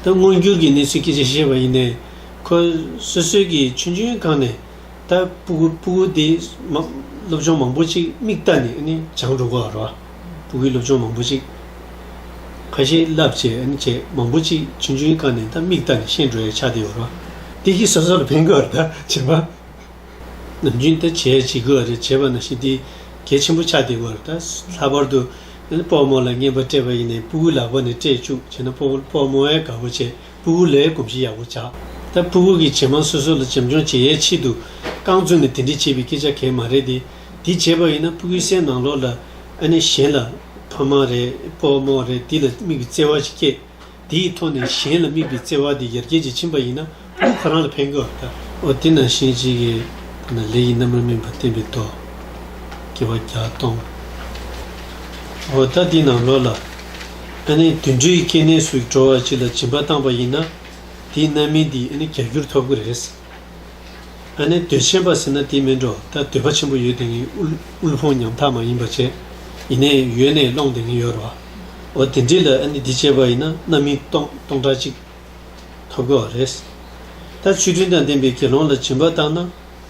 ད་མངོན་གྱུར་གྱི་གནས་ཚུལ་སྐད་ཆ་བཤད་པ་ཡིན་ནའི་ཁོ་སོ་སོའི་གི་ཆུན་ཆུན་གང་ནས་ད་སྤུ་གུ་སྤུ་གུ་དེ་སློབ་སྦྱོང་མང་པོ་ཅིག་མིག་ལྟ་ནས་ནི་བྱང་འགྲོ་གོ་རོ་སྤུ་གུའི་སློབ་སྦྱོང་མང་པོ་ཅིག་ཁ་ཞེ་བསླབ་བྱས་ནི་བྱས་མང་པོ་ཅིག་ཆུན་ཆུན་གང་ནས་ད་མིག་ལྟ་ནས་ཤེས་འགྲོ་ཡའི་ཆ་དེ་ཡོ་རོ་འདི་གི་སོ་སོ་ལ་ཕན་གི་རོ་ད་བྱེ་མ། ནམ་རྒྱུན་ད་བྱས་བྱེད་དགོས་བ་རེ་བྱེད་པ་ན་ཞི་བདེ་གལ་ཆེན་པོ་ཆགས་བསྡད་དགོས་རེད་ད། ལྷག་པར་དུ། སྤོག་མོ་ལ་བརྔན་པ་སྤྲད་པ་ཡིན་ནའི་སྤུ་གུ་ལག་པ་ནས་སྤྲད་བཅུག་བྱས་ན་སྤོག་མོ་ཨའི་དགའ་བོ་བྱས་སྤུ་གུ་ལའི་གོམས་གཤིས་ཡག་པོ་ཆགས། ད་སྤུ་གུ་གིས་བྱེ་མ་སོ་སོ་ལ་བྱམས་སྐྱོང་བྱེད་ཡའི་ཆེད་དུ། རྐང་བཙུགས་ནས་དེ་འདྲི་བྱེད་པའི་སྐད་ཆ་གལ་མ་རེད་དེ། དེ་བྱས་པ་ཡིན་ན་སྤུ་གུའི་སའི་ནང་ལོགས་ལ། ཨ་ནི་གཞན་ལ། ཕ་མ་རེད་སྤོག་མོ་རེད་དེ་ལ་དམིགས་པའི་བརྩེ་བ་ཞིག་སྐྱེས། དེའི་ཐོག་ནས་གཞན་ལ་དམིགས་པའི་བརྩེ་བ་དེ་ཡར་རྒྱས་ཀྱིས་ཕྱིན་པ་ཡིན་ན་ལུས་ཁོ་རང་ལ་ཕན་དགོས་བ་ལྟ། འོ་དེས་ན་གཞན་གཅིག་གི་ཐོག་ནས་ལས་ཀྱི་རྣམ་པར་སྨིན་པ་བསྟན་པའི་མདོ། དགེ་བ་བརྒྱ་སྟོང། འོ་ད་འདི་ནང་ལོགས་ལ། ཨ་ནི་དུད་འགྲོའི་སྐྱེ་གནས་སུ་འགྲོ་བ་གཅིག་ལ་སྦྱིན་པ་བཏང་བ་ཡིན་ན། དེའི་རྣམ་སྨིན་འདི་ཨ་ནི་བརྒྱ་འགྱུར་ཐོབ་གི་རེད། ཨ་ནེ་འདོད་ཆེན་པ་ཟེར་ན་དེ་མིན་འགྲོ་ད་འདོད་པ་ཆེན་པོ་ཡོད་དེ་ངས་དབུལ་ཕོངས་ཉམ་ཐག་མ་ཡིན་པ་བྱས་ཡིན་ནས་ཡོད་ནས་སློང་དེ་ངས་ཡོད་རོ་འོ་དེ་འདྲི་ལ་ཨ་ནེ་འདི་བྱས་པ་ཡིན་ན་རྣམ་སྨིན་སྟོང་སྟོང་ཕྲག་གཅིག་ཐོབ་དགོས་བ་རེད་ད་ཆུ་དྲུང་དང་ལྡན་པའི་དགེ་སློང་ལ་སྦྱིན་པ་བཏང་ན་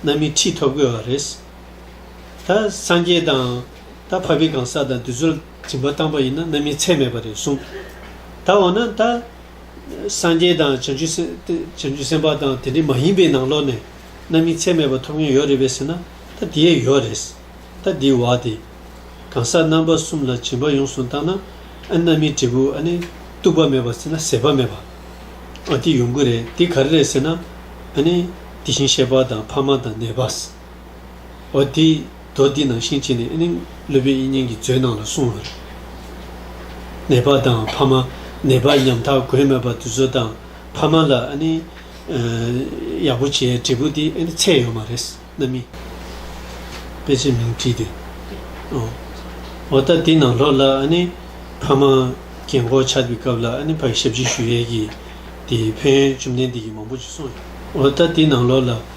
རྣམ་སྨིན་ཁྲི་ཐོབ་དགོས་བ་རེད་ད་སངས་རྒྱས་དང་ད་ཕ་བི་གང་ཟག་དང་དེ་ཚོར་སྦྱིན་པ་བཏང་པ་ཡིན་ན་རྣམ་སྨིན་ཚད་མེད་པ་རེད་གསུངས་ད་འོ་ན་ད། སངས་རྒྱས་དང་བྱང་ཆུབ་སེམས་དཔའ་དང་དེ་འདྲ་མ་ཡིན་པའི་ནང་ལོགས་ནས་རྣམ་སྨིན་ཚད་མེད་པ་ཐོབ་མཁན་ཡོད་རེད་པས་ཟེར་ན་ད་དེ་ཡས་ཡོད་རེད། ད་འདི་བ་དེ། གང་ཟག་རྣམ་པ་གསུམ་ལ་བྱིན་པ་ཡོངས་སུ་བཏང་ན་ཨ་རྣམ་སྨིན་འབྲས་བུ་ཨ་ནི་རྟུག་པ་མེད་པ་ཟེར་ན་ཟད་པ་མེད་པ། ཨ་དེ་ཡོང་གི་རེད་དེ་ག་རེ་རེད་ཟེར་ན་ཨ་ནི་དེ་བཞིན་གཤེགས་པ་དང་ཕ་མ་དང་ནད་པ། འོ་དེས་རྡོ་འདི་ནང་བཞིན་བྱས་ནས་ཨེ་ནི་ཀླུ་བེ་ཨི་སྙན་གྱི་མཛོད་ནང་ལ་སོང་ངོ། ནད་པ་དང་ཕ་མ་ནད་པ་ཉམ་ཐག་གོས་མེད་པ་དུ་ཚོད་དང་ཕ་མ་ལ་ཨེ་ནི། ཡག་པོ་བྱས་འབྲས་བུ་དེ་ཨེ་ནི་ཚད་ཡོད་མ་རེད་ན་མི། དཔེ་ཆའི་མིང་བྲིས་ཏེ། འོ་ད་དེ་ནང་ལོགས་ལ་ཨེ་ནི་ཕ་མ་གྱེན་འགོག་ཆགས་པའི་སྐབས་ལ་ཨེ་ནི་ཕ་ཡི་ཞབས་ཕྱི་ཞུ་ཡས་ཀྱིས་དེ་ཕན་ཡོན་བཅོམ་ལྡན་འདས་ཀྱིས་མང་པོ་ཞིག་གསུངས་ཡོད། འོ་ད་དེ་ནང་ལོགས་ལ།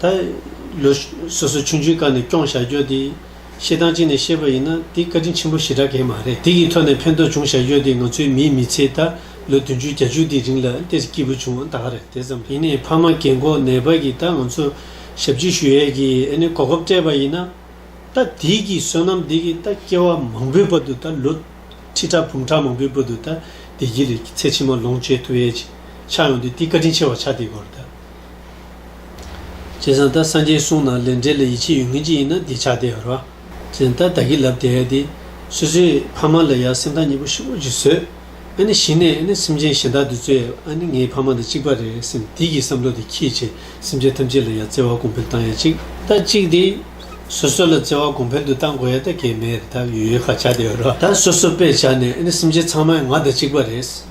ད་ལོ་སོ་སོའི་ཆུང་ཆུང་དཀའ་ནས་སྐྱོང་བཞག་རྒྱུ་དེ་ཤེས་སྟངས་གཅིག་ནས་བཤད་པ་ཡིན་ན་དེ་བཀའ་དྲིན་ཆེན་པོ་ཞེ་དྲག་གེ་མ་རེད་དེ་གི་ཐོག་ནས་ཕན་ཐོག་བྱུང་བཞག་རྒྱུ་དེ་ང་ཚོའི་མིའི་མི་ཚེ་ད་ལོ་བདུན་ཅུ་གྱ་བཅུ་དེ་རིང་ལ་ལྟས་ཀྱི་སྐྱིད་པོ་བྱུང་བ་ད་ག་རེད་དེ་ཙམ་ཡིན་ནས་ཕ་མ་རྒན་གོག་ནད་པ་གི་ད་ང་ཚོ་ཞབས་ཕྱི་ཞུ་ཡས་གི་ཨེ་ནས་གོ་སྐབས་སྤྲད་པ་ཡིན་ན་ད་དེ་གི་བསོད་ནམས་དེ་གི་ད་སྐྱེ་བ་མང་པོའི་བར་དུ་ད་ལོ་ཁྲི་ཕྲག་འབུམ་ཕྲག་མང་པོའི་བར་དུ་ད་བདེ་སྐྱིད་ལས་ཚེ་ཕྱི་མ་ལོངས་སྤྱད་ཐུབ་ཡས་ཆགས་ཡོང་དུས་དེ་བཀའ་དྲིན་ཆེ་བ་ཆགས་དེ་གོ་རེད་ད། ཅེས་སང་ད་སང་ཅེས་གསུངས་ན་ལས་འབྲས་ལ་ཡིད་ཆེས་ཡོད་ངེས་ཅི་ཡིན་ན་འདི་ཆགས་བསྡད་རོགས། ཅེས་ད་ད་གི་ལབ་བསྡད་དེ། སུད་སིའི་ཕ་མ་ལ་ཡང་སེམས་ཐག་ཉེ་པོ་ཞིག་དབུ་འབྱེད་བཟོས། ཨ་ནི་གཞི་ནས་ཨ་ནི་སེམས་ཅན་གཞན་དག་འདི་གཙོས་ཨ་ནི་ངའི་ཕ་མ་དང་གཅིག་པ་རེད་སེམས་དེ་གི་བསམ་བློ་དེ་ཁྱེད་ཀྱིས་སེམས་ཅན་ཐམས་ཅད་ལ་ཡང་བརྩེ་བ་གོང་འཕེལ་བཏང་ཡ་གཅིག། ད་གཅིག་དེ། སོ་སོ་ལ་བརྩེ་བ་གོང་འཕེལ་དུ་བཏང་དགོས་ཡ་ད་གས་མེད་རེད་ད་ཡོད་ཡོད་ཁ་ཆགས་བསྡད་རོགས། ད་སོ་སོ་པས་བྱ་ནས་ཨ་ནི་སེམས་ཅན་ཚང་མ་ཡང་ང་དང་གཅིག་པ་རེད།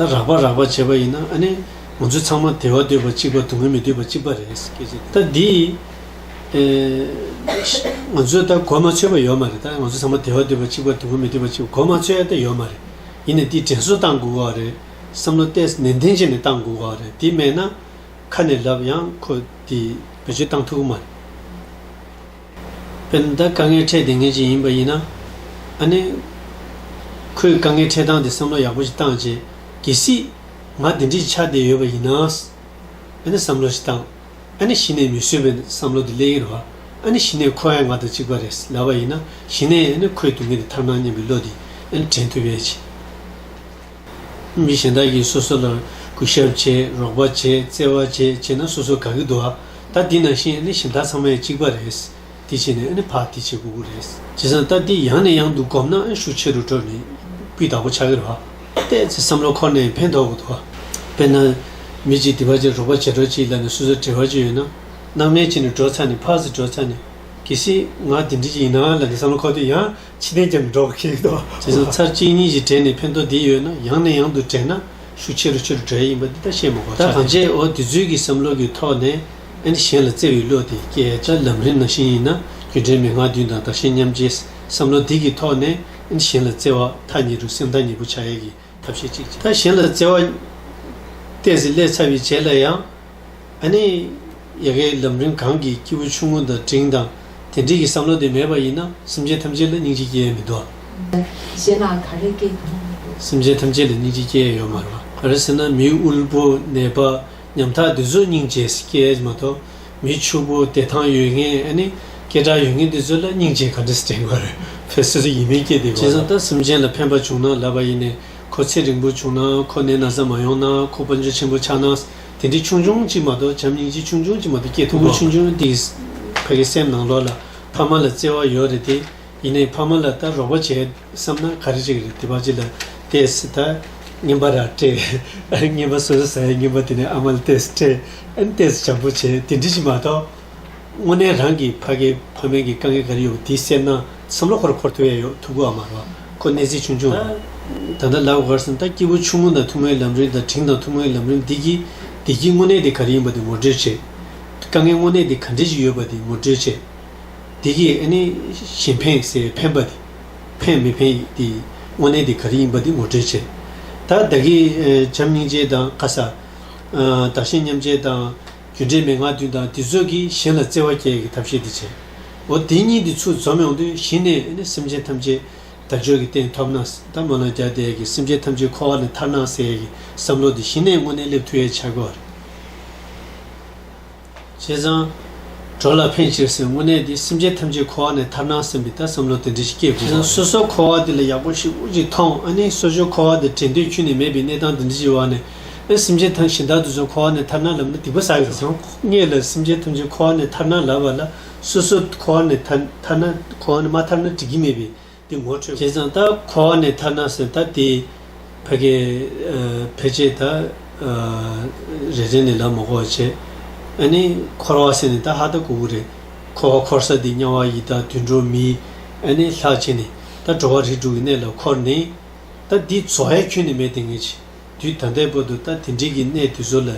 ད་རག་པ་རག་པ་བྱེད་པ་ཡིན་ན་ཨ་ནི་ང་ཚོ་ཚང་མ་དལ་བ་འདོད་པ་གཅིག་པ་སྡུག་བསྔལ་མི་འདོད་པ་གཅིག་པ་རེད། ད་འདི་ང་ཚོས་ད་གོ་མ་ཆོད་པ་ཡོད་མ་རེད་ད་ང་ཚོ་ཚང་མ་དལ་བ་འདོད་པ་གཅིག་པ་སྡུག་བསྔལ་མི་འདོད་པ་གཅིག་པ་གོ་མ་ཆོད་ཡ་ད་ཡོད་མ་རེད། ཡིན་ནས་འདི་དྲན་གསོ་བཏང་དགོས་ག་རེད་བསམ་བློ་གཏད་ནན་ཏན་བྱེད་ནས་བཏང་དགོས་ག་རེད་འདི་མེད་ན་ཁ་ནས་ལབ་ཡང་ཁོ་འདི་བེད་སྤྱོད་བཏང་ཐུབ་ཀི་མ་རེད། པས་ན་ད་དཀའ་ངལ་འཕྲད་དེ་ངེས་ཅན་ཡིན་པ་ཡིན། ཨ་ནེ། ཁོས་དཀའ་ངལ་འཕྲད་སྟངས་དེ་བསམ་བློ་ཡག་པོ་ཞིག་བཏང་རྗེས། གལ་སྲིད། ང་འདི་འདྲི་ཆགས་བསྡད་ཡོད་པ་ཡིན་ན། ཨ་ནེ་བསམ་བློ་ཞིག་བཏང། ཨ་ནེ་གཞི་ནས་མི་བཟོད་པའི་བསམ་བློ་དེ་གླེང་ཡི་རུ་ཨ་ནེ་གཞི་ནས་ཁོ་ཨེ་ང་དང་གཅིག་པ་རེད་ལབ་པ་ཡིན་ན་གཞི་ནས་ཨེ་ནེ་ཁོས་དུས་ངན་དེ་ཐར་སྣང་སྙམ་པའི་བློ་དེ་ཨེ་ནེ་དྲན་ཐུབ་ཡས་ཆེ། མི་གཞན་དག་གིས་སོ་སོ་ལ་གུས་ཞབས་བྱེད་རོགས་པ་བྱེད་བརྩེ་བ་བྱེད་བྱས་ན་སོ་སོ་དགའ་གི་འདུག་ཨ། ད་འདི་ནང་བཞིན་ཨ་ནི་ཞིམ་ཐག་ཚང་མས་གཅིག་པ་རེད། འདི་བྱས་ནས་ཨ་ནི་ཕག་འདི་བྱེད་གུ་གུ་རེད། བྱས་ཙང་ད་འདི་ཡང་ནས་ཡང་དུ་སྒོམ་ན་ཨ་ཤུགས་ཆེ་རུ་འགྲོ་ནས་སྤུས་དག་པོ་ཆགས་ཀྱི་རེད། བལྟས་ཚེ་བསམ་བློ་འཁོར་ནས་ཕན་ཐོགས་གི་འདུག་ཨ། དཔེར་ན། མི་གཅིག་འདི་པ་བྱེད་རོགས་པ་བྱེད་གྲོགས་གཅིག་ལ་ནས་སོ་སོ་བྲེལ་བ་གཅིག་ཡོད་ན། སྣང་མེད་གཅིག་ནས་འགྲོ་ཚར་ནས་ཕག་ཟིག་འགྲོ་ཚར་ནས། གལ་སྲིད་ང་འདི་འདྲི་གཅིག་ཡིན་ནའང་ལ་ནས་བསམ་བློ་འཁོར་དུས་ཡང་ཕྱི་ནས་ཀྱང་འགྲོ་གི་འདུག་བ། དེ་ཚོ་ཚར་གཅིག་གཉིས་ཀྱིས་བྲལ་ནས་ཕན་ཐོགས་འདི་ཡོད་ན་ཡང་ནས་ཡང་དུ་བྲལ་ན་ཤུགས་ཆེ་རུ་ཆེ་རུ་བྲལ་ཡིན་པ་འདི་ད་བཤད་མ་གོ་ད་གང་བྱས་འོ་དེ་ཚོའི་གི་བསམ་བློ་གི་ཐོག་ནས་ཨ་ནི་གཞན་ལ་བརྩེ་བའི་བློ་དེ་སྐྱེས་ད་ལམ་རིམ་ནང་བཞིན་ཡིན་ན་རྒྱུ་འབྲས་མན་ངག་བདུན་དང་བདག་གཞན་མཉམ་བརྗེའི་བསམ་བློ་འདི་གི་ཐོག་ནས་ཨ་ནི་གཞན་ལ་བརྩེ་བ་ཐག་ཉེ་རུ་སེམས་ཐག་ཉེ་པོ་བྱ་ཡས་གི་ཐབས་ཤེས་གཅིག་བྱས་ད་གཞན་ལ་བརྩེ་བ་བརྟས་ཟིན་སླད་ཚ་བའི་བྱས་སླད་ཡང། ཨ་ནི། ཡ་གའི་ལམ་རིམ་གང་གིས་སྐྱེས་བུ་ཆུང་ངུ་དང་འབྲིང་དང་དེ་འབྲིང་གི་བསམ་བློ་དེ་མེད་པ་ཡིན་ན་སེམས་ཅན་ཐམས་ཅད་ལ་སྙིང་རྗེ་སྐྱེ་ཡས་མི་འདུག་ཨ། གཞན་ལའང་ག་རེ་སྐྱེ་ཡོང་མི་འདུག། སེམས་ཅན་ཐམས་ཅད་ལ་སྙིང་རྗེ་སྐྱེ་ཡས་ཡོད་མ་རེད། ག་རེ་ཟེར་ན་མི་དབུལ་པོ་ནད་པ་ཉམ་ཐག་འདི་ཚོ་སྙིང་རྗེ་སྐྱེ་ཡས་མ་གཏོགས་མི་ཕྱུག་པོ་བདེ་ཐང་ཡོད་མཁན་ཨ་ནི། སྐད་གྲགས་ཡོད་མཁན་འདི་ཚོ་ལ་སྙིང་རྗེ་ག་འདྲ་སྐྱེ་དགོས་རེད། ཕལ་སེ་རེ་ཡིན་མིན་སྐྱེ་བདེ་གོ། བྱས་ཙང་ད་སེམས་ཅན་ལ་ཕན་པ་བྱུང་ན་ལབ་པ་ཡིན་ནས། ཁོ་ཚེ་རིང་པོ་བྱུང་ན་ཁོ་ནད་ན་ཟ་མ་ཡོང་ན་ཁོ་དཔོན་ཆུ་ཆེན་པོ་ཆགས་ན་དེ་འདྲའི་ཆུང་ཆུང་གཅིག་མ་གཏོགས་བྱམས་སྙིང་རྗེ་ཆུང་ཆུང་གཅིག་མ་གཏོགས་སྐྱེ་ཐུབ་བོ། ཆུང་ཆུང་འདི་ཕ་གི་སེམས་ནང་ལོག་ལ་ཕ་མ་ལ་བརྩེ་བ་ཡོད་རེད་དེ་ཡིན་ནའི་ཕ་མ་ལ་ལྟ་རོགས་པ་བྱེད་བསམ་ན་ག་རེ་རིགས་རེད་དེ་ཕ་གཅིག་ལ་ལྟས་ད་རྔན་པ་ར་སྤྲད་རྔན་པ་སོ་སོ་ཟ་ཡས་རྔན་པ་དེ་ནས་ཨ་མ་ལ་ལྟས་སྤྲད་ཨེ་ལྟས་བྱམས་པོ་བྱེད་དེ་འདྲི་གཅིག་མ་གཏོགས། དངོས་གནས་རང་གི་ཕ་གི་ཕ་མེན་གི་དཀའ་ངལ་ག་རེ་ཡོད་པ་དེའི་སེམས་ནང་བསམ་བློ་ཁོར་འཁོར་ཐུབ་ཡ་ཡོད་ཐུག་གོ་ཨ་མ་རོ་ཁོ་གནས་ཚད་ཆུང་ཆུང་རེད། ད་ལྟ་ལབ་གར་སོང་ད་སྐྱེས་བུ་ཆུང་ངུ་དང་ཐུང་ངའི་ལམ་རིམ་དང་དྲིན་དང་ཐུང་ངའི་ལམ་རིམ་འདི་གྱིས་བདེ་སྐྱིད་དངོས་གནས་དེ་ག་རེ་ཡིན་པ་དེ་ངོ་སྤྲོད་བྱེད། དཀའ་ངལ་དངོས་གནས་དེ་ག་འདྲེ་ཞིག་ཡོད་པ་དེ་ངོ་སྤྲོད་བྱེད། དེ་གྱིས་ཨ་ནི་གཞན་ཕན་ཟེར་ཕན་པ་དེ་ཕན་མི་ཕན་དེ་དངོས་གནས་དེ་ག་རེ་ཡིན་པ་དེ་ངོ་སྤྲོད་བྱེད། ད་བདག་གིས་བྱམས་སྙིང་རྗེ་དང་ཁ་ས། བདག་ཞེན་མཉམ་བརྗེ་དང། རྒྱུ་འབྲས་མན་ངག་བདུན་དང་དེ་ཚོད་ཀྱིས་གཞན་ལ་བརྩེ་བ་བསྐྱེད་ཀྱི་ཐབས་ཤེས་འདི་བྱེད། འོ་དེ་གཉིས་འདི་ཚུར་འཛོམས་ཡོང་དུས་གཞི་ནས་ནི་སེམས་ཅན་ཐམས་ཅད་བདག་འཇོག་གི་སྟེང་ཐོབ་ན་ཟླ་མོ་ལ་རྒྱ་བཟླས་ཀྱི་སེམས་ཅན་ཐམས་ཅད་འཁོར་བ་ལས་ཐར་ན་ཟེར་གྱི་བསམ་བློ་འདི་གཞི་ནས་དངོས་གནས་སླེབས་ཐུ་ཡའི་འཆར་སྒོ་རེད། བྱས་ཙང། གྲོགས་ལ་ཕན་ཕྱིར་སེམས་དངོས་གནས་འདི་སེམས་ཅན་ཐམས་ཅད་འཁོར་བ་ནས་ཐར་ན་སེམས་པའི་ལྟ་བསམ་བློ་དེ་འདྲ་ཞིག་སྐྱེ་དགོས་པ་རེད། སོ་སོ་འཁོར་བ་འདི་ལ་ཡག་པོ་ཞིག་དབུགས་ཅིག་ཐོངས་ཨ་ནི་སོ་སོའི་འཁོར་བ་འདི་དྲན་འདོད་ཁྱུ་ནས་མེད་པའི་གནས་སྟངས་འདི་འདྲ་ཞིག་བར་ནས་ཨེ། སེམས་ཅན་ཐམས་ཞིང་དག་ཏུ་བཟོད་འཁོར་བ་ནས་ཐར་ན་ལམ་ནི་སྡིག་པ་བསགས་ཀྱིས་སོ། གཉིས་ལ་སེམས་ཅན་ཐམས་ཅད་འཁོར་བ་ནས་ཐར་ན་ལ་བ་ལ་སོ་སོ་འཁོར་བ་ནས་ཐར་ན་འཁོར་བ་ནས་མ་ཐར་ན་དྲི་གིས་སྨྲས་པས་དེ་ངོ་འཕྲོད། བྱས་ཙང་ད་འཁོར་བ་ནས་ཐར་ན་སེམས་ད་དེ། བྷ་གའི། འཕེལ་བྱེད་ད། རེ་རེ་ནས་ལ་མོ་འཁོར་བར་བྱེད། ཨེ་ནི། འཁོར་བ་སེམས་ནི་ད་ཧ་ད་གུ་གུ་རེ། འཁོར་བ་འཁོར་ས་འདི་དམྱལ་བ་ཡི་ད་དུད་འགྲོ་མི། ཨེ་ནི། ལྷག་བྱས་ནས་ད་འགྲོ་བ་རིགས་དྲུག་གི་གནས་ལ་འཁོར་ནི། ད་འདི་བཟོ་ཡ་ཁྱོད་ནི་མེད་དེ་ངེས། དུས་ད་ལྟའི་བར་དུ་ད་དེ་འབྲེལ་གྱི་གནས་དུས་ཚོད་ལ་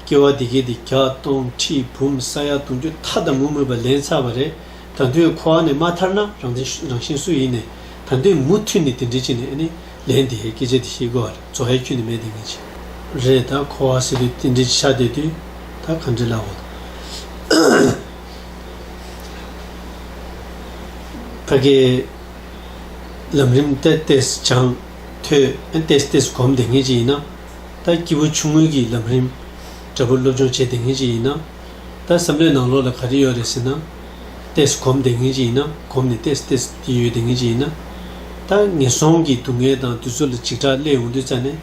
སྐྱེ་བ་དེ་གའི་དེ་བརྒྱ་སྟོང་ཁྲི་འབུམ་ས་ཡ་དུང་ཕྱུར་མཐའ་དང་མུ་མུད་པ་ལེན་ཚར་བ་རེད་ད་དུས་ཁོ་བ་ནས་མ་ཐར་ན་རང་བཙན་ཤུ་རང་བཞིན་སུ་ཡིན་ནས་ད་དུས་མུ་མཐུད་ནས་དེ་འབྲེལ་གྱི་ནས་ནས་ལེན་དེ་སྐད་ཆ་དེ་ཤེས་དགོས་བ་རེད་བཙོ་ཧའི་ཁྱུ་ནས་མེད་དེ་ངེས་ཅི། རེད་ད་ཁོ་བ་སི་རི་དེ་འབྲེལ་གྱི་ཤ་དེ་དུས་ད་ག་འབྲེལ་ལ་བོད་ཕ་གིས་ལམ་རིམ་ཏེ་ཏེས་བྱང། ཐོས། ཨན་ཏེས་ཏེས་གོམས་དེ་སྔའི་ཅི་ཡིན་ན། ད་སྐྱེས་བུ་ཆུང་ངུའི་གི་ལམ་རིམ། དྲ་འབུ་སློབ་སྦྱོང་བྱས་དེ་སྔའི་ཅི་ཡིན་ན། ད་བསམ་བློའི་ནང་ལོགས་ལ་ག་རེ་ཡོད་རེད་ཟེར་ན། ཏེས་གོམས་དེ་སྔའི་ཅི་ཡིན་ན་གོམས་ནས་ཏེས་ཏེས་ཡི་ཡོད་དེ་སྔའི་ཅི་ཡིན་ན། ད་ངན་སོང་གི་སྡུག་བསྔལ་དང་དུས་ཚོད་ལ་འཇིགས་སྐྲག་སླེ་ཡོང་དུས་རྩ་ནས།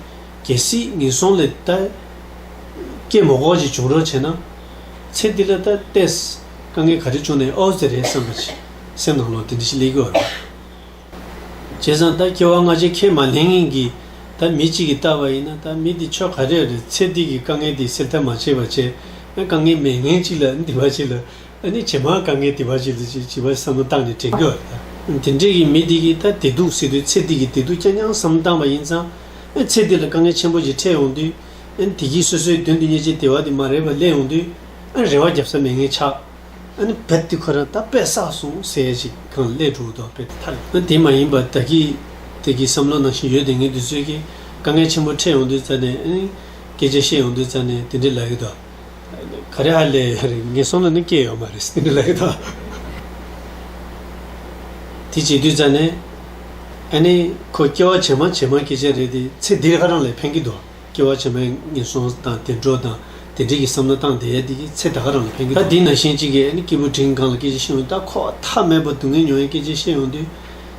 གལ་སྲིད་ངན་སོང་ལས་ད། སྐྱེས་མོ་ཁོག་ཅིག་བྱུང་རོགས་བྱས་ན། ཚེ་འདི་ལ་ད་ཏེས། དཀའ་ངལ་ག་རེ་བྱུང་ནས་ཨོ་ཟེར་རེད་བསམ་པ། སེམས་ནང་ལོགས་འདི་འདྲི་ཞིག་སླེ་གི་འོ་རེད། བྱས་ཙང་ད་སྐྱེ་བ་སྔ་ཕྱི་ཁས་མ་ལེན་ངེས་ཀྱི། ད་མི་གཅིག་གིས་བཏགས་པ་ཡིན་ན་ད་མི་དེ་ཆོ་ག་རེ་རེད་ཚེ་འདི་གི་དཀའ་ངལ་དེ་སེལ་ཐབས་མ་བྱས་པ་ཆད་ན་དཀའ་ངལ་མེད་ངན་གཅིག་ལ་འདི་བ་གཅིག་ལ་ཨ་ནི་ཇེ་མང་དཀའ་ངལ་དེ་བ་གཅིག་ལ་ཅིག་བྱིས་པ་བསམ་བློ་བཏང་ནས་དྲན་གི་བ་ད་དེ་འདྲས་ཀྱི་མི་དེ་གིས་ད་བདེ་སྡུག་སེལ་དུས་ཚེ་འདི་གི་བདེ་སྡུག་ཀྱང་སྙང་བསམ་བཏང་བ་ཡིན་ཙང་ཚེ་འདི་ལ་དཀའ་ངལ་ཆེན་པོ་ཞིག་འཕྲད་ཡོང་དུས་ཨ་ནི་དེ་གིས་སོ་སོའི་མདུན་དུ་བརྙས་བཅད་དེ་བ་དེ་མ་རེད་པ་གླེང་ཡོང་དུས་ཨ་རེ་བ་རྒྱབ་ས་མེད་ངན་ཆགས། ཨ་ནི་བེད་ཏི་ཁོ་རང་ད་པེད་བསགས་སོང་ཟེར་ཡས་ཅིག་གང་སླད་འགྲོ་འདོག་པེད་ཏི་ཐར་ཨ་དེ་མ་ཡིན་པར་ད་ཀི་ཏི་ཀི་བསམ་བློ་ནང་བཞིན་ཡོད་དེ་ངས་དུས་ཚོད་ཀྱི་དཀའ་ངལ་ཆེན་པོ་འཕྲད་ཡོང་དུས་ཙ་ནས་ཨ་ནི་སྐད་ཆ་བཤད་ཡོང་དུས་ཙ་ནས་དེ་འདྲི་ལ་ཡོད་དོ། ག་རེ་ཧ་ལས་ཡོད་རེད་ངས་སོང་ལ་ནི་སྐྱེས་ཡོད་མ་རེད་དེ་འདྲི་ལ་ཡོད་དོ། དེ་བྱེད་དུས་ཙ་ནས་ཨ་ནི་ཁོ་སྐྱེ་བ་ཇེ་མང་ཇེ་མང་སྐད་ཆ་རེད་དེ་ཚེ་འདིར་ཧ་རང་ལས་ཕན་གི་འདུག། སྐྱེ་བ་ཕྱི་མའི་ངན་སོང་དང་དེ་འཕྲོག་དང་དེ་འབྲེལ་གྱི་བསམ་བློ་བཏང་དེ་དེ་ཀྱི་ཚེ་ད་ག་རང་ལ་ཕན་གི། ད་དེ་ན་གཞན་གཅིག་གིས་སྐྱེས་བུ་དྲིན་གང་ལ་སྐད་ཅིག་ཤེས་ཡོང་ད་ཁོག་ཐག་མེད་པར་སྡུག་བསྔལ་མྱོང་ཡང་སྐད་ཅིག་ཤེས་ཡོང་དུས།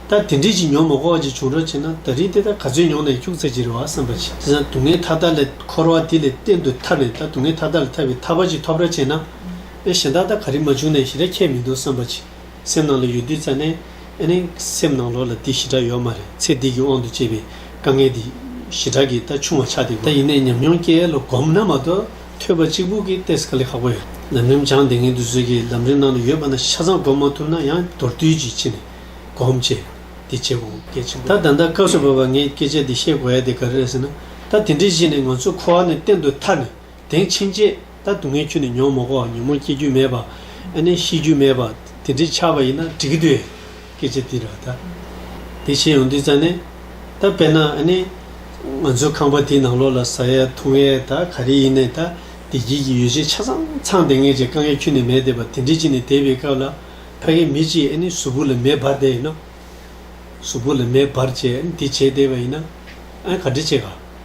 ད་དེ་འདྲིས་ཀྱི་མྱོང་མ་ཁོག་ཅིག་བྱུང་རོགས་བྱས་ན་ད་རིས་དེ་ད་ག་ཚོད་མྱོང་ན་ཡང་ཁྱུག་ཚ་གྱི་རེད་བ་བསམ་པ་ཅི་དེ་སང་སྡུག་བསྔལ་མཐའ་དག་ལས་འཁོར་བ་དེ་ལས་གཏན་དུ་ཐར་བས་ད་སྡུག་བསྔལ་མཐའ་དག་ལས་ཐར་བའི་ཐབས་པ་ཅིག་ཐོབ་ར་བྱས་ན། ཨེ་གཞན་དག་ད་ག་རིས་མ་བྱུང་ན་ཡང་ཞི་ར་ཁྱད་མི་འདུག་བསམ་པ་ཅི། སེམས་ནང་ལ་ཡོད་དུས་རྩ་ནས་ཨེ་ནས་སེམས་ནང་ལོག་ལ་དེ་ཞི་དྲག་ཡོད་མ་རེད་ཚེ་འདི་གི་དབང་དུ་བཅས་པའི་དཀའ་ངལ་འདི་ཞི་དྲག་གིས་ད་ཆུང་བ་ཆགས་འདི་གོ། ད་ཡིན་ནས་ཉམས་མྱོང་སྐྱེ་ལོ་གོམས་ན་མ་གཏོགས་ཐོས་པ་གཅིག་པུ་གིས་ཏེ་སྐ་ལེ་ཁག་པོ་ཡོད་ལམ་རིམ་སྦྱངས་འདི་ངན་དུ་བཟོས་ཀྱི་ལམ་རིམ་ནང་དུ་ཡོད་པ་ན་ཤ་ཚང་གོམས་མ་ཐུབ་ན་ཡང་མདོར་བསྡུས་ཀྱིས་ཕྱི་ནས་གོམས་བྱས་འདི་བྱེད་དགོས་གལ་ཆེན་པོ་རེད། ད་ད་ལྟ་སྐབས་སུ་བབས་པ་ངས་སྐད་ཆ་འདི་བཤད་དགོས་ཡ་དེ་ག་རེ་རེད་ཟེར་ན་ད་དེ་འདྲའི་གཞི་ནས་ང་ཚོ་ཁོ་བ་ནས་གཏན་དུ་ཐར་ནས་དེང་ཕྱིན་ཆད་ད་སྡུག་བསྔལ་ཁྱོད་ནི་མྱོང་མ་གོ་ཉོན་མོངས་སྐྱེ་རྒྱུ་མེད་པ། ཨ་ནི་ཤི་རྒྱུ་མེད་པ། དེ་འདྲའི་ཆགས་པ་ཡིན་ན་འགྲིག་གི་འདུག་སྐད་ཆ་འདི་ར་ད། དེ་བྱེད་ཡོང་དུས་ཙང་ནས། ད་དཔེར་ན་ཨ་ནི། ང་ཚོའི་ཁང་པ་དེའི་ནང་ལོགས་ལ་ཟ་ཡས་འཐུང་ཡས་ད་ག་རེ་ཡིན་ནས་ད་བདེ་སྐྱིད་ཀྱི་ཡོ་བྱད་ཆ་ཚང་ཚང་ལྡེང་ངེས་ཀྱི་དཀའ་ངལ་ཁྱོད་ནི་མེད་བསྡད་པ་དེ་འདྲའི་ཅིག་ནས་བསྡད་པའི་སྐབས་ལ། ཕ་གི་མི་གཅིག་ཨ་ནི་གཟུགས་པོ་ལ་མེ་འབར་བསྡད་ཡིན་ནོ། གཟུགས་པོ་ལ་མེ་འབར་བྱས་ཨ་ནི་དེ་བྱས་བསྡད་པ་ཡིན་ན། ཨ་ག་འདྲི་བྱེད་ག།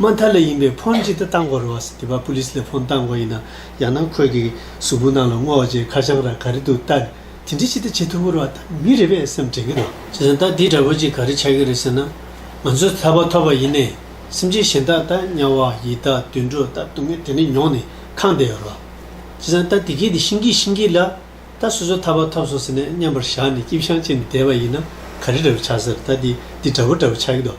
མ་མཐའ་ལས་ཡིན་པའི་ཕོན་ཅི་ལྟར་བཏང་དགོས་རུང་བ་སི་ཏི་བ་པུ་ལི་སི་ལས་ཕོན་བཏང་དགོས་ཡིན་ན་ཡང་ན་ཁོས་གི་གཟུགས་པོ་ནང་ལ་སྔོ་བ་ཅན་ཁ་བྱང་ར་ག་རི་འདུག་ལྟ་དེ་འདྲི་ཅི་ལྟར་བྱེད་ཐུབ་རུང་བ་ད་མི་རེ་བས་སེམས་དྲན་གི་རེད། བྱས་ཙང་ལྟ་དེ་འདྲ་བོ་ཅིག་ག་རི་ཆགས་ཀྱི་རེད་ཟེར་ན་ང་ཚོས་ཐར་པ་ཐོབ་པ་ཡིན་ནས་སེམས་ཅན་གཞན་དག་ལྟ་དམྱལ་བ་ཡི་དག་དུད་འགྲོ་ལྟ་སྡུག་བསྔལ་དེ་འདྲ་མྱོང་ནས་ཁང་བསྡད་ཡོད་རུང་བ། བྱས་ཙང་ལྟ་དེ་གས་དེ་ཤིང་གིས་ཤིང་གིས་ལ་ལྟ་སོ་སོས་ཐར་པ་ཐོབ་སོང་ཟེར་ནས་མཉམ་པར་བཞག་ནས་སྐྱིབས་ཤང་བཅད་ནས་བསྡད་པ་ཡིན་ན་ག་རི་འདྲ་བོ་ཆགས་ཟེར་ལྟ་དེ་འདྲ་བོ་འདྲ་བོ་ཆགས་ཀྱི་འདུག།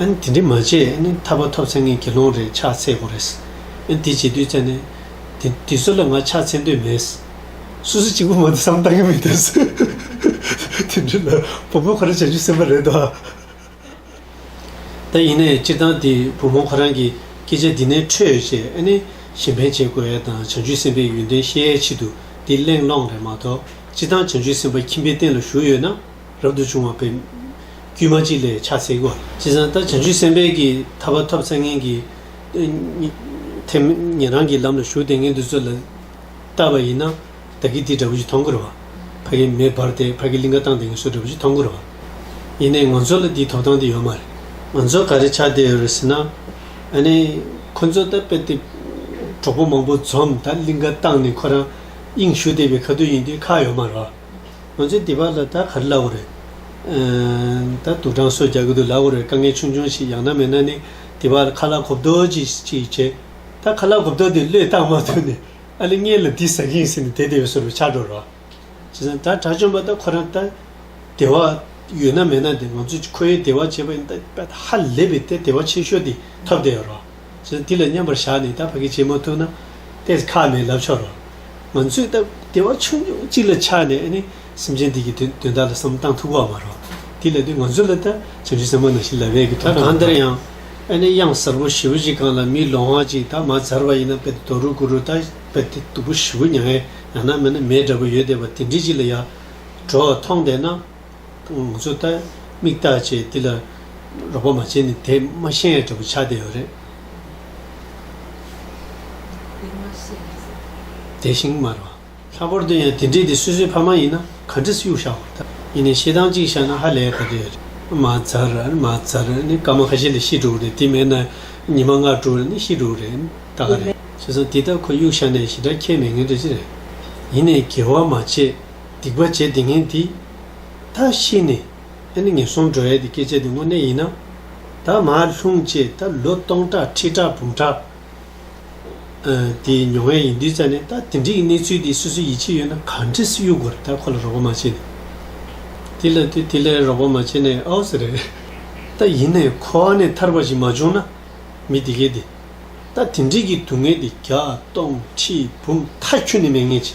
ཨན། དེ་འདྲི་མ་བྱེད་ཨ་ནི་ཐར་པ་ཐོབ་ཚེ་ངས་དགེ་སློང་རེ་ཕྱག་འཚལ་དགོས་རེད། ཨན། དེ་བྱེད་དུས་ཚེ་ནི། དེ་དུས་ཚོད་ལ་ང་ཕྱག་འཚལ་འདོད་མེད། སུ་སུ་གཅིག་པུ་མ་འདུག་བསམ་བཏང་གི་མི་འདུག་ཟེར། དེ་འདྲི་ལ་བུ་མོས་ཁོ་རང་བྱ་རྒྱུ་སེམས་པ་རེད་དོ། ད་ཡིན་ནའི་སྤྱིར་བཏང་དེ་བུ་མོ་ཁོ་རང་གིས་སྐད་ཆ་འདི་ནས་འཕྲོས་རྗེས་ཨ་ནི་གཞན་ཕན་བྱེད་དགོས་ཨེ་དང་བྱང་ཆུབ་སེམས་དཔའི་ཡོན་ཏན་ཤེས་ཡའི་ཆེད་དུ་འདི་གླེང་སློང་རེད་མ་གཏོགས་སྤྱིར་བཏང་བྱང་ཆུབ་སེམས་དཔའ་ཁྱིམ་པའི་སྟེང་ལ་བཞུགས་ཡོད་ན། རབ་ཏུ་བྱུང་བ་པའི། དཀྱུས་མ་གཅིག་ལས་ཆགས་སྲེད་སྒོ། ཅེས་གསང་སྟེ་བྱང་ཆུབ་སེམས་དཔའི་གྱི་ཐར་པ་ཐོབ་ཚད་ངན་གྱི། ཐེག་དམན་རང་གི་ལམ་ལ་ཞུགས་ཏེ་ངན་དུ་རྩོད་ལ། ལྟ་བ་ཡིན་ན། བདག་གིས་དེའི་དགྲ་བོ་ཆུ་འཐོང་བསྐུར་བ། ཕ་གིས་མེ་སྦར་ཏེ་ཕ་གི་ལིང་ག་བཏང་སྟེ་ངལ་གསོའི་དགྲ་བོ་ཆུ་འཐོང་བསྐུར་བ། ཡིན་ནས་ང་ཚོ་ལ་དེའི་ཐོབ་ཐང་དེ་ཡོད་མ་རེད། ང་ཚོ་ག་རེ་ཆགས་བསྡད་ཡོད་རེད་ཟེར་ན། ཨ་ནི། ཁོ་ཚོ་ད་དཔེ་དེབ། གྲོགས་པོ་མང་པོ་འཛོམས་ད་ལིང་ག་བཏང་ནས་ཁོ་རང། དབྱིངས་ཞུགས་བསྡད་པའི་ཁ་ཐུག་ཡིན་དུས་ཁག་ཡོད་མ་རེད། ང་ཚོའི་སྡེ་བ་ལ་ད་ག་རེ་བླ་འོ་རེད། ད་དུག་སྦྲང་གསོད་རྒྱག་གི་འདུག་ལབ་འོ་རེད་དཀའ་ངལ་ཆུང་ཆུང་ཞིག་ཡང་ན་མེད་ན་ནི་དེ་བར་ཁ་ལག་གོ་བརྡོལ་ཅིག་ཅིག་བྱེད། ད་ཁ་ལག་གོ་བརྡོལ་དེ་བློས་བཏང་མ་ཐུབ་ནས་ཨ་ལི་མངལ་ལ་དེ་ཟ་གིན་ཟིན་ནས་དེ་དེ་བས་སོ་རུ་ཆགས་འགྲོ་རོགས། བྱས་ཙང་ད་གྲྭ་བཅོམ་པ་ད་ཁོ་རང་ད་སྡེ་བ་ཡོད་ན་མེད་ན་དེ་ང་ཚོ་ཁོའི་སྡེ་བ་བྱེད་པ་ཡིན་ད་ཧ་ལས་པའི་ད་སྡེ་བ་ཆེ་ཤོས་དེ་ཐོབ་བསྡད་ཡོད་རོགས། ཚུལ་འདི་ལ་མཉམ་པར་བཞག་ནས་ད་བར་གྱི་བྱེད་མ་ཐུབ་ན་ཏེས་ཁ་ནས་ལབ་ཆོག་རོ། ང་ཚོས་སྟབས་བདེ་བ་ཆུང་ཆུང་གཅིག་ལ་ཆགས་ནས་ནི་སེམས་ཅན་འདི་གྱི་དོན་དག་ལ་བསམ་གཏང་ཐུབ་བ་མ་རོ། དེ་ལས་ནི་ང་ཚོ་ལ་ད་བྱམས་ཆུང་ཟེར་མ་ནང་བཞིན་ལབ་ཡས་ཀྱི་དོན་དག་མ་རེད། གང་ལྟར་ཡང་གཡང་གཟར་བུ་བཞི་བོ་གཅིག་གང་ལ་མིའི་ལོ་ཧང་གཅིག་ད་མ་འཛར་བ་ཡིན་ན་དཔེ་དེ་དོ་རུ་ཀུ་རུ་ད་དཔེ་དེ་སྟུག་པོ་བཞི་བོ་མྱ་ངན་ཡང་ན་མེད་ན་མེད་འདྲ་པོ་ཡོད་བསྡད་པ་དེ་འདྲི་གཅིག་ལ་ཡག། གྲོགས་ཐོངས་བསྡད་ན། ངུ་ཚོད་ལྟ་མིག་ལྟ་བྱེད་འདི་ལ་རོགས་པ་མ་བྱེད་ནི་དེ་མ་ཤེས་ཡ་འདྲ་པོ་ཆགས་བསྡད་ཡོད་རེད། དེ་བཞིན་སྨྲ་བ། ལྷག་པར་དུ་ཡང་དེ་འདྲས་དེ་སོ་སོའི་ཕ་མ་ཡིན་ན་ག་འདྲ་སུས་བཞག་པ་ད་ཡིན་ནའི་ཤེས་སྟངས་གཅིག་བཞག་ན་ཧ་ལས་ག་འདྲ་ཡོད་རེད། མ་ཚར་མ་ཚར་ནི་སྐར་མ་ཁ་ཤས་ལས་ཤི་འགྲོ་གི་རེད་དེ་མེད་ན་ཉི་མ་ལྔ་དྲུག་ལ་ནི་ཤི་འགྲོ་གི་རེད་ད་ག་རེད་བྱས་སམ་དེ་ལྟར་ཁོ་གཡུག་བཞག་ནས་ཞེ་དྲག་ཁྱེར་མི་ངེས་འདྲ་ཅི་རེད། ཡིན་ནའི་དགེ་བ་མ་བྱས། སྡིག་པ་བྱེད་དེ་ངན་འདི། ད་ཤི་ནས་ཨེ་ནི་ངན་སོང་འགྲོ་ཡས་འདི་སྐད་ཅེས་འདི་དངོས་གནས་ཡིན་ན། ད་མ་ལྷུང་བཅས་ད་ལོ་སྟོང་ཕྲག་ཁྲི་ཕྲག་འབུམ་ཕྲག་དེ་མྱོང་ཡས་ཡིན་དུས་ཙང་ནས་ད་དེ་འདྲིའི་གནས་ཚུལ་དེ་སུ་སུ་ཡིད་ཆེས་ཡོད་ན་ག་འདྲི་སུ་གཡུག་དགོས་རེད་ད་ཁོ་ལ་རོགས་པ་མ་བྱེད་ནས། དེ་ལ་དེ་དེ་ལ་རོགས་པ་མ་བྱེད་ནས་ཨོ་ཟེར་རེད། ད་ཡིན་ནས་ཁོ་བ་ནས་ཐར་པ་ཞིག་མ་བྱུང་ན། མི་དེ་གས་དེ། ད་དེ་འདྲིས་ཀྱི་སྡུག་བསྔལ་དེ་བརྒྱ་སྟོང་ཁྲི་འབུམ་ཐ་ཁྱུ་ནས་མེད་ངེས་ཅི།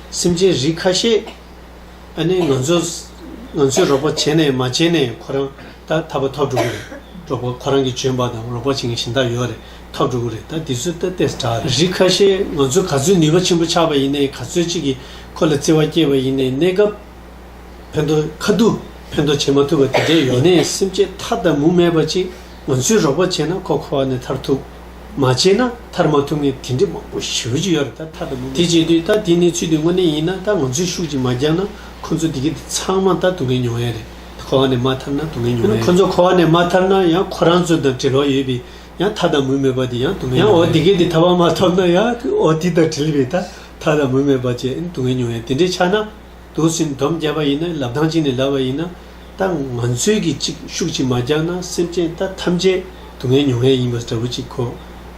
སེམས་ཅན་རིགས་ཁ་ཤས་ཨ་ནི་ང་ཚོ་ང་ཚོས་རོགས་པ་བྱས་ནས་མ་བྱས་ནས་ཁོ་རང་ད་ད་པ་ཐག་འགྲོ་གི་རེད་རོགས་པ་ཁོ་རང་གི་འཇོན་པ་དང་རོགས་པ་བྱེད་མཁན་གཞན་དག་ཡོད་རེད་ཐག་འགྲོ་གི་རེད་ད་དེ་ཚོས་ད་ལྟས་སུ་གྲགས་རེད་རིགས་ཁ་ཤས་ང་ཚོ་ག་ཚོད་ནུས་པ་ཆེན་པོ་ཆགས་པ་ཡིན་ནའི་ག་ཚོད་ཅིག་གིས་ཁོ་ལ་བརྩེ་བ་སྐྱེས་པ་ཡིན་ནའི་གནས་སྐབས་ཕན་ཐོག་ཁ་བསྡུ་ཕན་ཐོག་བྱེད་མ་ཐུབ་པ་དེ་འདྲས་ཡོད་ནའི་སེམས་ཅད་མཐའ་དང་མུ་མེད་པ་ཅིག་ང་ཚོས་རོགས་པ་བྱས་ན་ཁོ་ཁོ་བ་ནས་ཐར་ཐུབ། མ་བྱས་ན་ཐར་མ་ཐུབ་ངེས་དེ་འདྲས་མང་པོ་ཞིག་རོལ་གྱི་ཡོད་རེད་ད་ཐར་དུ་མི་དེ་བྱས་དུས་ད་དེ་ནས་ཚུལ་དུ་དངོས་གནས་ཡིན་ན་ད་ང་ཚོས་ཤུགས་ཀྱིས་མ་རྒྱག་ན་ཁོ་ཚོ་དེ་གི་དེ་ཚང་མ་ད་དུ་ངེས་མྱོང་ཡས་རེད་ད་ཁོ་བ་ནས་མ་ཐར་ན་དུ་ངེས་མྱོང་ཡས་རེད་ཁོ་ཚོ་ཁོ་བ་ནས་མ་ཐར་ན་ཡང་ཁོ་རང་ཚོ་དང་བྲེལ་བ་ཡོད་པས་ཡང་ཐ་དང་མུ་མེད་པ་དེ་ཡང་དུ་ངེས་མྱོང་ཡས་རེད་ཡང་འོ་དེ་གི་དེ་ཐར་བ་མ་ཐོབ་ན་ཡང་འོ་དེ་དང་བྲེལ་བས་ད་ཐ་དང་མུ་མེད་པ་བཅས་དུ་ངེས་མྱོང་ཡས་དེ་འདྲས་ཆགས་ན། དུ་སེམས་དོམ་བརྒྱབ་པ་ཡིན་ན་ལབ་ལྡང་གཅིག་ནས་ལབ་པ་ཡིན་ན་ད་ང་ཚོས་ཀྱིས་ཅིག་ཤུགས་ཅིག་མ་རྒྱག་ན་སེམས་ཅན་ད་ཐམས་ཅད་སྡུག་བསྔལ་མྱོང་ཡས་ཡིན་པ་འདྲ་བོ་ཅིག་གོ།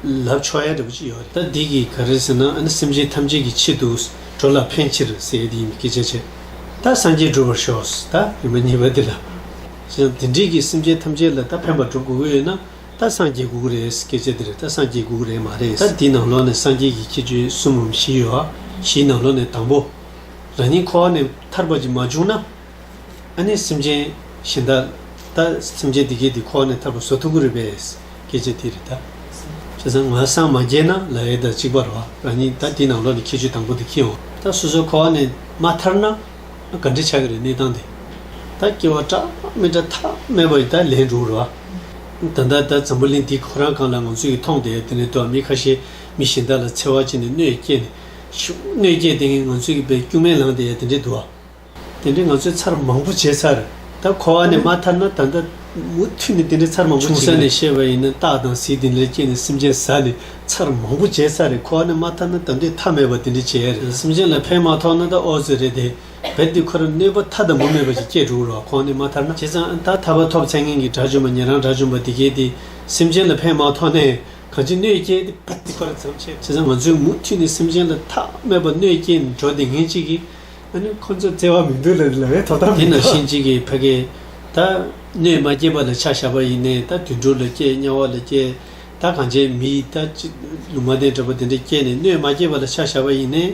ལབ་ཆོག་ཡས་འདྲ་བོ་ཅིག་ཡོད་རེད། ད་འདི་གིས་ག་རེ་ཟེར་ན་ཨ་ནི་སེམས་ཅན་ཐམས་ཅད་ཀྱི་ཆེད་དུ་འགྲོ་ལ་ཕན་ཕྱིར་ཟེར་ཡས་འདི་ཡིན་པའི་སྐད་ཆ་བྱས་ད་སངས་རྒྱས་འགྲུབ་པར་ཤོག་ཟེར་ད་རིན་པ་གཉིས་པ་འདི་ལ་ཞེ་ན་འདི་འདྲིས་ཀྱིས་སེམས་ཅན་ཐམས་ཅད་ལ་ད་ཕན་པ་འགྲུབ་དགོས་ཀྱི་ཡོད་ན་ད་སངས་རྒྱས་དགོས་ཀྱི་རེད་སྐད་ཆ་འདི་རེད་ད་སངས་རྒྱས་དགོས་ཀྱི་རེད་མ་རེད་ད་འདི་ནང་ལོགས་ནས་སངས་རྒྱས་ཀྱི་ཁྱད་ཆོས་གསུམ་འམ་བཞི་ཡོད་ཨ་བཞིའི་ནང་ལོགས་ནས་དང་པོ། རང་ཉིད་འཁོར་བ་ནས་ཐར་པ་ཅིག་མ་བྱུང་ན། ཨ་ནི་སེམས་ཅན་གཞན་དག་ད་སེམས་ཅན་འདི་སྐད་དེ་འཁོར་བ་ནས་ཐར་པ་ཟོ་ཐུག་གི་རེད་པས། སྐད་ཆ་དེ་རེད་ད། བྱས་ཙང་ང་སངས་མ་རྒྱས་ན་ལ་ཡའི་ཟླ་གཅིག་པ་རོ་རང་ཉིད་ད་དེའི་ནང་ལོགས་ནས་ཁྱད་ཆོས་དང་པོ་དེ་ཁེལ་འོང། ད་སོ་སོའི་འཁོར་བ་ནས་མ་ཐར་ན། ག་འདྲི་ཆགས་ཀྱི་རེད་གནས་སྟངས་དེ། ད་སྐྱེ་བ་ཀྲག་མེད་ཀྲ་ཐག་མེད་པ་ཡི་ད་ལན་འགྲོ་རོ། ད་ལྟ་ད་འཛམ་བུ་གླིང་འདི་ཁོ་རང་གང་ལ་ང་ཚོ་ཡི་མཐོང་དེ་དེ་ནས་དུ་བ་མི་ཁ་ཤས་མི་གཞན་དག་ལ་འཚེ་བ་བྱས་ནས་གནོད་སྐྱེལ་ནས། ཤུགས་གནོད་སྐྱེལ་དེ་ངས་ང་ཚོའི་གི་བའི་སྐྱུག་མེན་ལངས་དེ་ཡ་དེ་འདྲའི་དུ་བ། དེ་འདྲའི་ང་ཚོའི་ཚར་མང་པོ་བྱས་ཚར་ད་ཁོ་བ་ནས་མ་ཐར་ན་ད་ད་མུ་མཐུད་ནས་དེ་འདྲའི་ཚར་མང་པོ་བྱེད་ཆུང་ས་ནས་བཤད་པ་ཡིན་ན་སྟག་དང་གཟིག་དེ་འདྲའི་སྐྱེས་ནས་སེམས་ཅན་ཟ་ནས་ཚར་མང་པོ་བྱས་ཚར་རེད་ཁོ་བ་ནས་མ་ཐར་ན་ད་འདོད་ཐག་མེད་པ་དེ་འདྲའི་བྱས་ཡ་རེད་སེམས་ཅན་ལ་ཕན་མ་ཐོག་ན་ད་ཨོ་ཙི་རེད་དེ་བེར་འདི་ཁོ་ར་གནོད་པ་མཐའ་དང་མུ་མེད་པ་ཞིག་སྐྱེས་འགྲོ་གི་རོགས་ཁོ་བ་ནས་མ་ཐར་ན་བྱས་ཙང་ད་ཐར་པ་ཐོབ་ཚད་ངན་གི་དགྲ་བཅོམ་པ་ཉེ་རང་དགྲ་བཅོམ་པ་འདི་སྐད་དེ་སེམས་ཅན་ལ་ཕན་མ་ཐོག་ནས་གང་ཅི་གནོད་སྐྱེལ་ཏེ་བདེ་བར་མཚམས་ཆད། བྱས་ཙང་ང་ཚོས་མུ་མཐུད་ནས་སེམས་ཅན་ལ་ཐ་མལ་པ་གནོད་སྐྱེལ་འགྲོ་བདེ་ངན་ཅིག་གིས་ཨ་ནུ་ཁོ་ཚོ་བཙལ་བ་མི་འདུག་ལ་ལ་བའི་དོ་དམ་མི་འདུག། དེ་ན་ཤེས་ཅིག་གི་ཕ་གི། ད་གནོད་མ་སྐྱེལ་བ་ལ་ཆ་བཞག་པ་ཡིན་ནས་ད་དུད་འགྲོ་ལ་སྐྱེལ་དམྱལ་བ་ལ་སྐྱེལ། ད་གངས་ཅན་མི་ཡིས་ད་ལུང་མ་བསྟན་འདྲ་པོ་དེ་འདྲ་སྐྱེལ་ནས་གནོད་མ་སྐྱེལ་བ་ལ་ཆ་བཞག་པ་ཡིན་ནས།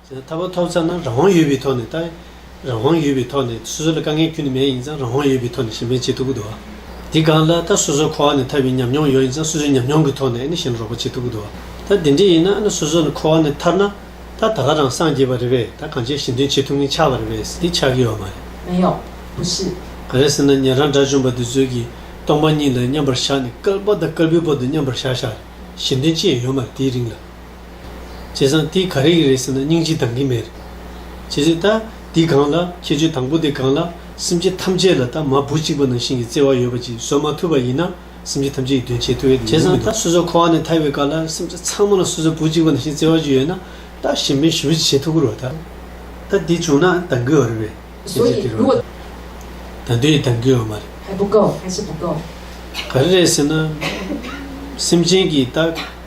ད་བར་ཐོབ་ཚར་ན་རང་དབང་ཡོད་པའི་ཐོག་ནས་ལྟ། རང་དབང་ཡོད་པའི་ཐོག་ནས་སོ་སོ་ལ་དཀའ་ངལ་ཁྱོན་ནས་མེད་ཡིན་ཙང་རང་དབང་ཡོད་པའི་ཐོག་ནས་གཞན་པའི་བྱེད་ཐུབ་ཀྱི་འདུག་བ། དེ་སྒང་ལ་ད་སོ་སོ་ཁོ་བ་ནས་ཐར་བའི་ཉམས་མྱོང་ཡོད་ཡིན་ཙང་སོ་སོའི་ཉམས་མྱོང་གི་ཐོག་ནས་ནི་གཞན་ལ་རོགས་པ་བྱེད་ཐུབ་ཀྱི་འདུག་བ། ད་དེ་འདྲས་ཡིན་ན་ནི་སོ་སོ་ནི་ཁོ་བ་ནས་ཐར་ན། ད་ད་ག་རང་སངས་རྒྱས་པ་རེད་བས་ད་གང་བྱས་གཞན་དོན་བྱེད་ཐུབ་ངེས་ཆགས་པ་རེད་བས་སི་ཏི་ཆགས་ཀྱི་ཡོད་བ་མ་རེད། མེད་ཡོང་བུ་སྲིད། ག་རེ་ཟེར་ན་ཉན་རང་དགྲ་བཅོམ་པ་འདི་ཚོས་ཀྱིས་སྟོང་པ་ཉིད་ལ་མཉམ་པར་བཞག་ནས་སྐལ་པ་དང་སྐལ་པའི་བར་དུ་མཉམ་པར་བཞག་བཞག་གཞན་དོན་ཅི་ཡང་ཡོད་མ་རེད་དེའི་རིང་ལ། བྱས་ཙང་དེ་ག་རེ་ཡིན་རེད་ཟེར་ན་སྙིང་རྗེ་འདང་གི་མེད། བྱས་ཙང་ད་འདི་གང་ལ་ཁྱེད་ཆོས་དང་པོ་དེ་གང་ལ་སེམས་ཅན་ཐམས་ཅད་ལ་ད་མ་བུ་གཅིག་པ་ནང་བཞིན་གྱི་བརྩེ་བ་ཡོད་པ་ཅིག་བཟོ་མ་ཐུབ་པ་ཡིན་ན་སེམས་ཅན་ཐམས་ཅད་ཀྱི་དོན་བྱེད་ཐུབ་ཡོད་བྱས་ཙང་ད་སོ་སོ་ཁོ་བ་ནས་ཐར་བའི་སྐབས་ལ་སེམས་ཅན་ཚང་མ་ལ་སོ་སོའི་བུ་གཅིག་པ་ནང་བཞིན་བརྩེ་བ་ཅིག་ཡོད་ན་ད་གཞན་ཕན་ཞུ་བ་ཅིག་བྱེད་ཐུབ་ཀི་རོགས་ད། ད་འདི་བྱུང་ན་འདང་གི་ཡོད་རེད་པས་བྱས་ཙང་དེ་རུ་ད་ད་འདི་ཡིས་འདང་གི་ཡོད་མ་རེད། ག་རེ་རེད་ཟེར་ན་སེམས་ཅན་གྱི་ད།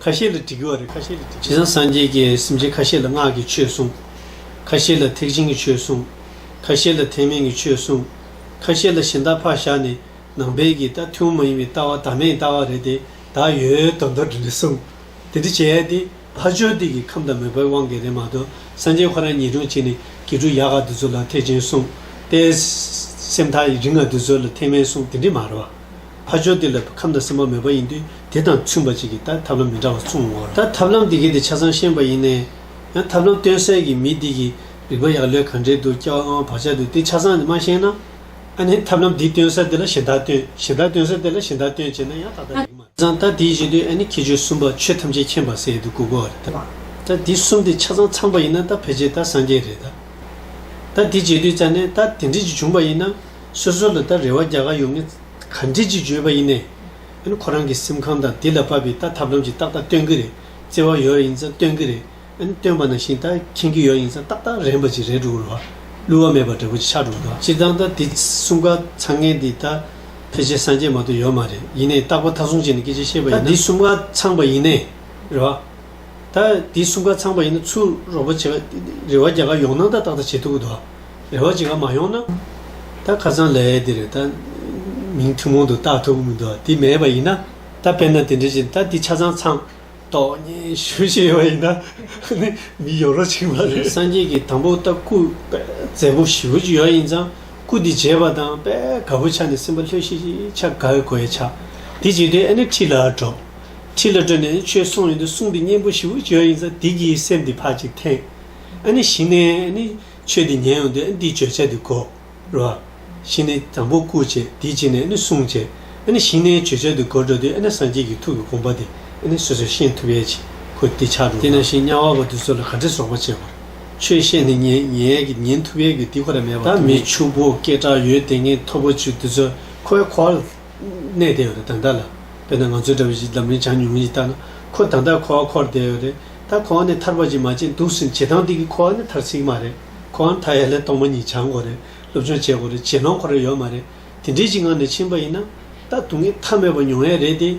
ཁ་ཤས་ལ་དྲི་གི་བ་རེད་ཁ་ཤས་ལ་དྲི་གི་བ། རེད། སངས་རྒྱས་ཀྱི་སེམས་ཅན་ཁ་ཤས་ལ་སྔགས་ཀྱི་ཆོས་གསུངས། ཁ་ཤས་ལ་ཐེག་ཆེན་གྱི་ཆོས་གསུངས། ཁ་ཤས་ལ་ཐེག་དམན་གྱི་ཆོས་གསུངས། ཁ་ཤས་ལ་གཞན་དག་ཕག་ཞག་ནི་ནང་པའི་གི་ལྟ་ཐུན་མོང་མ་ཡིན་པའི་ལྟ་བ་དག་མེད་ལྟ་བ་རེད་དེ་དག་ཡོད་དོ་འདོ་འདྲི་ནས་གསུངས། དེ་འདྲི་བྱས་དེ་ཕ་ཅོ་དེ་གི་ཁམས་དང་མོས་པའི་དབང་གིས་རེད་མ་གཏོགས་སངས་རྒྱས་ཁོ་རང་ཉིད་སྒྲུང་བྱས་ནས་གི་འབྲུ་ཡག་ག་དེ་ཚོ་ལ་ཐེག་ཆེན་གསུངས། དཔལ་སེམས་ཐག་རིང་ང་དེ་ཚོ་ལ་ཐེག་དམན་གསུངས་དེ་འདྲི་མ་རེད་བ། ཕ་ཆོས་དེ་ལ་ཁམས་དང་སེམས་པ་མེད་པ་ཡིན་དུས་དེ་དང་མཐུན་པ་ཅིག་གིས་ད་ཐབས་ལམ་མི་འདྲ་བ་མཚུངས་ངོ། ད་ཐབས་ལམ་འདི་གའི་དེ་ཆ་ཚང་ཤེས་པ་ཡིན། ཡང་ཐབས་ལམ་སྟོན་སའི་གི་མི་འདི་གིས་རིག་པ་ཡག་ལོས་གང་འདྲའི་འདུག་སྐྱ་བ་ལྔ་བ་བག་ཆགས་འདུག་དེ་ཆ་ཚང་འདི་མ་ཤེས་ན། ཨ་ནི་ཐབས་ལམ་འདི་སྟོན་ས་དེ་ལ་གཞན་དག་སྟོན་གཞན་དག་སྟོན་ས་དེ་ལ་གཞན་དག་སྟོན་བྱས་ན་ཡང་ད་ལྟ་རིག་མ། ཚང་ད་དེའི་བཞིན་དུ་ཨ་ནི་ཁྱད་ཆོས་གསུམ་པ་ཆོས་ཐམས་ཅད་མཁྱེན་པར་ཟེར་ཡོད་དུས་གུ་གུ་བ་རེད་ད། ད་འདི་གསུམ་དེ་ཆ་ཚང་ཚང་པ་ཡིན་ན་ད་ཕལ་ཆེར་ད་སངས་རྒྱས་རེད་ད། ད་འདི་བྱས་དུས་ཙཱ་ནས་ད་དེ་འདྲིས་ཅིག་བྱུང་པ་ཡིན་ན། སོ་སོ་ལ་ད་རེ་བ་རྒྱག་ག་ཡོང་ངེ། ག་འདྲི་ཅིག་བརྗོད་པ་ཡིན་ནས། ཨན་ཁོ་རང་གི་སེམས་ཁམས་དང་དེ་ལ་བབས་པའི་ད་ཐབས་ལམ་ཅིག་ཏག་ཏག་སྟོན་གི་རེད། བརྩེ་བ་ཡོད་ཡིན་ཙང་སྟོན་གི་རེད། ཨན་སྟོན་པ་ན་ཤིང་རྟ་ཁེངས་གི་ཡོད་ཡིན་ཙང་ཏག་ཏག་རན་པ་ཅིག་རེད་འགྲོ་གི་རོགས། བསླུ་བ་མེད་པ་འདྲ་བོ་ཅིག་ཆགས་འགྲོ་གི་རོགས། སྤྱིར་བཏང་ད་དེ་གསུམ་ཀ་ཚང་ངེ་འདི་ད་ཕལ་ཆེར་སངས་རྒྱས་མ་གཏོགས་ཡོད་མ་རེད་ཡིན་ནས་རྟག་པ་མཐའ་སྲུང་བྱས་ནས་སྐད་ཆ་བཤད་པ་ཡིན་ན། ད་དེ་གསུམ་ཀ་ཚང་པ་ཡིན་ནས་རེད་བ། ད་དེ་གསུམ་ཀ་ཚང་པ་ཡིན་ན་ཚུར་རོགས་པ་བྱེད་ག་རེ་བ་རྒྱག་ག་ཡོང་ནང་ད་ཏག་ཏག་བྱེད་ཐུབ་གི་འདུག་བ། རེ་བ་ཇི་ག་མ་ཡོང་ན། ད་ཁ་སང་ལས་ཡས་འདིར་ད་མིང་ཐུན་མོང་དུ་བཏགས་ཐུབ་ཀྱི་མི་འདུག་དེ་མེད་པ་ཡིན་ན། ད་དཔེར་ན་དེ་འདྲ་ཞིག་ད་འདི་ཆ་ཚང་ཚང། ཏོག་ཉེན་ཞུ་བཞིན་ཡོད་པ་ཡིན་ན། ནི་མི་ཡོང་རོགས་བྱེད་ཀྱི་མ་རེད། སངས་རྒྱས་ཀྱི་དང་པོ་ད་སྐུ། བཙན་པོ་བཞི་བོ་ཅིག་ཡོད་ཡིན་ཙང་སྐུ་འདི་བརྗེས་པ་དང་དཔལ་དགའ་བོ་ཆགས་ནས་སེམས་པ་ལྷོད་ཤིག་ཆ་དགའ་བའི་གོ་ཡས་ཆགས། དེ་བྱས་དུས་ཨེ་ནི་ཁྲི་ལ་འགྲོ། ཁྲི་ལ་བྲོས་ནས་ཆོས་གསུངས་ཡོང་དུས་གསུང་འདི་སྙན་པོ་བཞི་བོ་ཅིག་ཡོད་ཡིན་ཙང་དེ་གྱིས་སེམས་འདི་ཕར་ཅིག་འཐེན། ཨེ་ནི་གཞི་ནས་ཨེ་ནི། ཆོས་འདི་ཉན་ཡོང་དུས་འདིའི་བརྗོད་བྱ་འདི་གོ། རོ། ཤིང་ནི་དང་པོ་བཀུག་ཅེས་དེའི་རྗེས་ནས་ནི་གསུངས། ཅེས་ཤིང་ནའི་བརྗོད་བྱ་འདི་གོ་འགྲོ་དུས་སངས་རྒྱས་ཀྱི་ཐུགས་ཀྱི་དགོངས་པ་འདི་སོ་སོས་ཤེས་ཐུབ་ཡས་ཀྱི་ཁུ་འདི་ཆགས་འགྲོ། དེས་ན་ཤིང་དམྱལ་བ་བ་འདི་ཚོ་ལ་ག་འདྲའི་སོགས་པ་བྱེད་པར། ཆོས་ཤེས་ནས་ཉན་ཡས་ཀྱི་ཉན་ཐུབ་ཡས་ཀྱི་འདི་ཁོ་ན་མེད་པར་ཐུག། མི་ཕྱུག་པོ་སྐད་གྲགས་ཡོད་དེ་ངན་ཐོབ་པོ་ཆུ་འདི་ཚོ་ཁོའི་ཁོ། གནས་དེ་ཡང་རེད་དང་ལྟར་ལ། དཔེར་ན་ང་ཚོའི་འདྲ་བའི་ཞིག་འཛམ་གླིང་བྱང་ཉུང་ངུ་ཞིག་བལྟ་ན། ཁོ་དང་ལྟར་འཁོར་བ་འཁོར་བསྡད་ཡོད་རེད། ད་ཁོ་བ་ནི་ཐར་པ་ཅིག་མ་བྱེད་འདུག་ཟིན་བྱེད་དང་དེ་གིས་ཁོ་བ་ནི་ཐར་སྲིད་མ་རེད། ཁོ་བ་མཐའ་ཡས་ལས་སྟོང་པ་ཉིད་བྱང་དགོས་རེད། སློབ་སྦྱོང་བྱེད་དགོས་རེད་བྱེད་ལོང་ཁོ་རེ་ཡོད་མ་རེད། དེ་འདྲའི་ཞིག་ངང་ནས་ཕྱིན་པ་ཡིན་ན། ད་དུང་གི་མཐའ་མེད་པ་མྱོང་ཡས་རེད་དེ།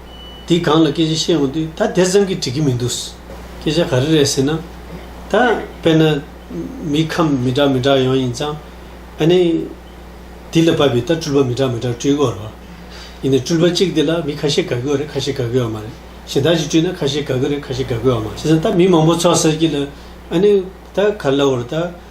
འདི་གང་ལ་སྐད་ཆ་བཤད་འོང་དུས་ད་དེ་ཙམ་གྱིས་འགྲིག་གི་མི་འདུག། སྐད་ཆ་ག་རེ་རེད་ཟེར་ན། ད་དཔེར་ན། མི་ཁམས་མི་འདྲ་མི་འདྲ་ཡོང་ཡིན་ཙང། ཨ་ནི། འདི་ལ་བབས་པའི་ད་སྤྲུལ་པ་མི་འདྲ་མི་འདྲ་སྤྲུལ་དགོས་རོ། ཡིན་ནའི་སྤྲུལ་པ་གཅིག་འདི་ལ་མི་ཁ་ཤས་དགའ་གི་བ་རེད་ཁ་ཤས་དགའ་གི་བ་མ་རེད་གཞན་དག་ཅིག་སྤྲུལ་ན་ཁ་ཤས་དགའ་གི་རེད་ཁ་ཤས་དགའ་གི་བ་མ་རེད་ཟེར་ཙང་ད་མི་མང་པོ་ཚོགས་ཟེར་གྱི་ལ། ཨ་ནི། ད་ག་ལ་བ་རེད་ད།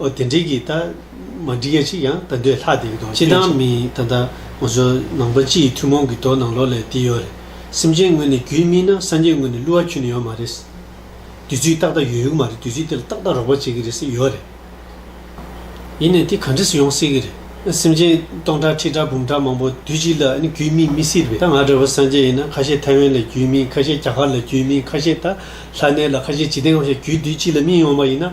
ཨོ་དེ་འགྲིག་གི་ད། མ་འགྲིག་ཡ་ཅིག་ཡང་ད་འདོད་ལྷག་དེ་གི་དོགས་གཅོད་བྱེད། སྤྱི་བཏང་མིན་ད་ལྟ་ང་ཚོ་ནང་པ་སྤྱི་ཡི་ཐུན་མོང་གི་དོགས་སྣང་ལོག་ལས་དེ་ཡོད་རེད་སེམས་ཅན་དངོས་ནས་རྒྱུད་སྨིན་ན་སངས་རྒྱས་དངོས་ནས་བསླུ་བ་འཁྱུད་ནི་ཡོད་མ་རེད། དུས་ཚོད་ཏག་ཏག་ཡོད་ཡོད་མ་རེད་དུས་ཚོད་དེ་ལ་ཏག་ཏག་རོགས་པ་བྱེད་ཀྱི་རེད་སེ་ཡོད་རེད། ཡིན་ནས་དེ་ག་འདྲི་སུ་ཡོང་སྲིད་ཀྱི་རེད། སེམས་ཅན་སྟོང་ཕྲག་ཁྲི་ཕྲག་འབུམ་ཕྲག་མང་པོ་དུས་གཅིག་ལ་རྒྱུད་སྨིན་མི་སྲིད་པས་ད་ང་འདྲ་བོ་སངས་རྒྱས་ཡིན་ན་ཁ་ཤས་ཐའེ་ཝན་ལ་རྒྱུད་སྨིན་ཁ་ཤས་རྒྱ་གར་ལ་རྒྱུད་སྨིན་ཁ་ཤས་ད་ལྷ་གནས་ལ་ཁ་ཤས་ཇི་སྟེ་འང་བྱས་རྒྱུད་དུས་གཅིག་ལ་སྨིན་ཡོང་བ་ཡིན་ན།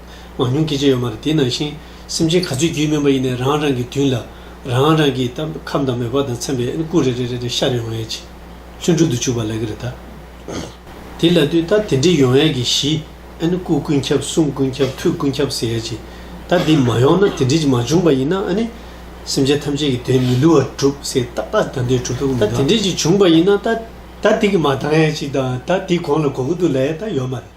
མང་ཉུང་སྐྱེ་མཆེད་ཡོད་མ་རེད་དེ་ནང་བཞིན་སེམས་ཅན་ག་ཚོད་རྒྱུད་སྨིན་པ་ཡིན་ནས་རང་རང་གི་མདུན་ལ་རང་རང་གི་ད་ཁམས་དང་མེ་འབར་དང་མཚན་པའི་སྐུ་རེ་རེ་རེ་རེ་ཤར་ཡོང་ཡས་ཀྱི་ལྷུན་གྲུབ་ཏུ་བྱུགས་པ་ལེགས་ཀྱི་རེད་ད། དེ་ལ་དུས་ད་དེ་འདྲི་ཡོང་ཡས་ཀྱི་གཞི་སྐུ་ཀུན་ཁྱབ་གསུང་ཀུན་ཁྱབ་ཐུགས་ཀུན་ཁྱབ་ཟེར་ཡས་ཀྱི་ད་འདི་མ་ཡོང་ན་དེ་འདྲི་གྱི་མ་བྱུང་པ་ཡིན་ན་ནི་སེམས་ཅན་ཐམས་ཅད་ཀྱི་དོན་མི་བསླུ་བར་གྲུབ་ཟེར་ཏག་ཏག་ད་འདི་གྲུབ་ཐུབ་ཀྱི་མི་འདུག་ད་དེ་འདྲི་གྱི་བྱུང་པ་ཡིན་ན་ད་ད་འདི་གི་མ་བཏང་ཡས་ཀྱི་ད་ད་འདི་གོང་ལ་གོ་གི་འདུག་ལ་ཡས་ད་ཡོད་མ་རེད།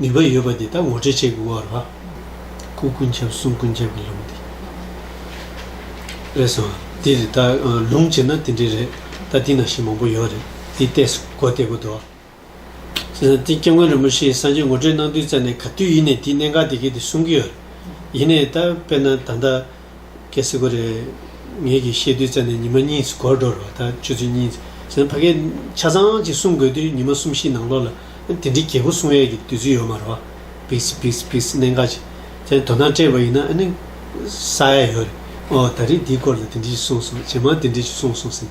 ནུས་པ་ཡོད་པ་འདི་དག་ངོ་སྤྲོད་བྱེད་དགོས་བ་རེད། སྐུ་ཀུན་ཁྱབ་གསུང་ཀུན་ཁྱབ་ཀྱི་ལུང་འདི་རེད་སོང། འདི་རེད་ད། ལུང་བྱེད་ན་དེ་འདྲས་རེད་ད་དེ་ན་ཞིག་མང་པོ་ཡོད་རེད་དེ་ལྟས་སུ་གོ་བལྟས་དགོས་འདུག། བྱས་ཙང་དེ་སྐྱབས་མགོན་རིན་པོ་ཆེའི་སངས་རྒྱས་ངོ་སྤྲོད་གནང་དུས་རྩ་ནས་ག་དུས་ཡིན་ནས་དེའི་གནད་འགག་དེ་གས་དེ་གསུང་གི་ཡོད་རེད། ཡིན་ནས་ད་དཔེར་ན་ད་ལྟ། སྐད་སིག་པོ་རེད། ངེད་ཀྱིས་བཤད་དུས་རྩད་ནས་ཉི་མ་གཉིས་སུ་གོར་འགྲོ་རུ་བ་ད་ཆུ་ཚོད་གཉིས། ཕ་སྐད་ཆ་ཚང་ཅིག་གསུང་དགོས་དུས་ཉི་མ་གསུམ་བཞི་ནང་ལོགས་ལ་དེ་འདྲའི་གལ་པོ་གསུང་ཡས་ཀྱི་དུས་ཚོད་ཡོད་མ་རུ་བ། Please Please Please གནད་འགག་ཅིག་ཅན་དོ་སྣང་སྤྲད་པ་ཡིན་ན་ནི་ས་ཡ་ཡོད་རེད། ཨོ་ད་རེས་འདིའི་སྐོར་ལ་དེ་འདྲི་ཞིག་གསུང་སོང་ཇེ་མང་དེ་འདྲི་ཞིག་གསུང་སོང་ཟིན།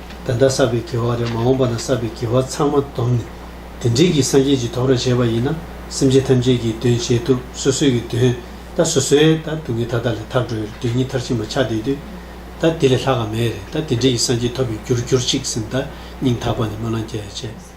ད་ལྟ་བསགས་པའི་དགེ་བ་རེ་མ་འོངས་པ་ན་བསགས་པའི་དགེ་བ་ཚང་མ་བསྡོམས་ནས་དེ་འབྲེལ་གྱི་སངས་རྒྱས་ཀྱི་དོགས་ར་བྱས་པ་ཡིན་ན་སེམས་ཅན་ཐམས་ཅད་ཀྱི་དོན་བྱེད་ཐུབ་སོ་སོའི་གི་དོན་ད་སོ་སོའི་ད་སྡུག་བསྔལ་ད་ད་ལས་ཐར་འགྲོའི་དོན་གཉིས་མཐར་ཕྱིན་པ་ཆགས་བསྡད་དུས་ད་དེ་ལས་ལྷག་ག་མེད་རེད་ད་དེ་འབྲེལ་གྱི་སངས་རྒྱས་ཐོབ་པའི་རྒྱུར་གྱུར་ཅིག་སེམས་ད་སྙིང་ཐག་པ་ནས་སྨོན་ལམ་བསྐྱེད་བྱས།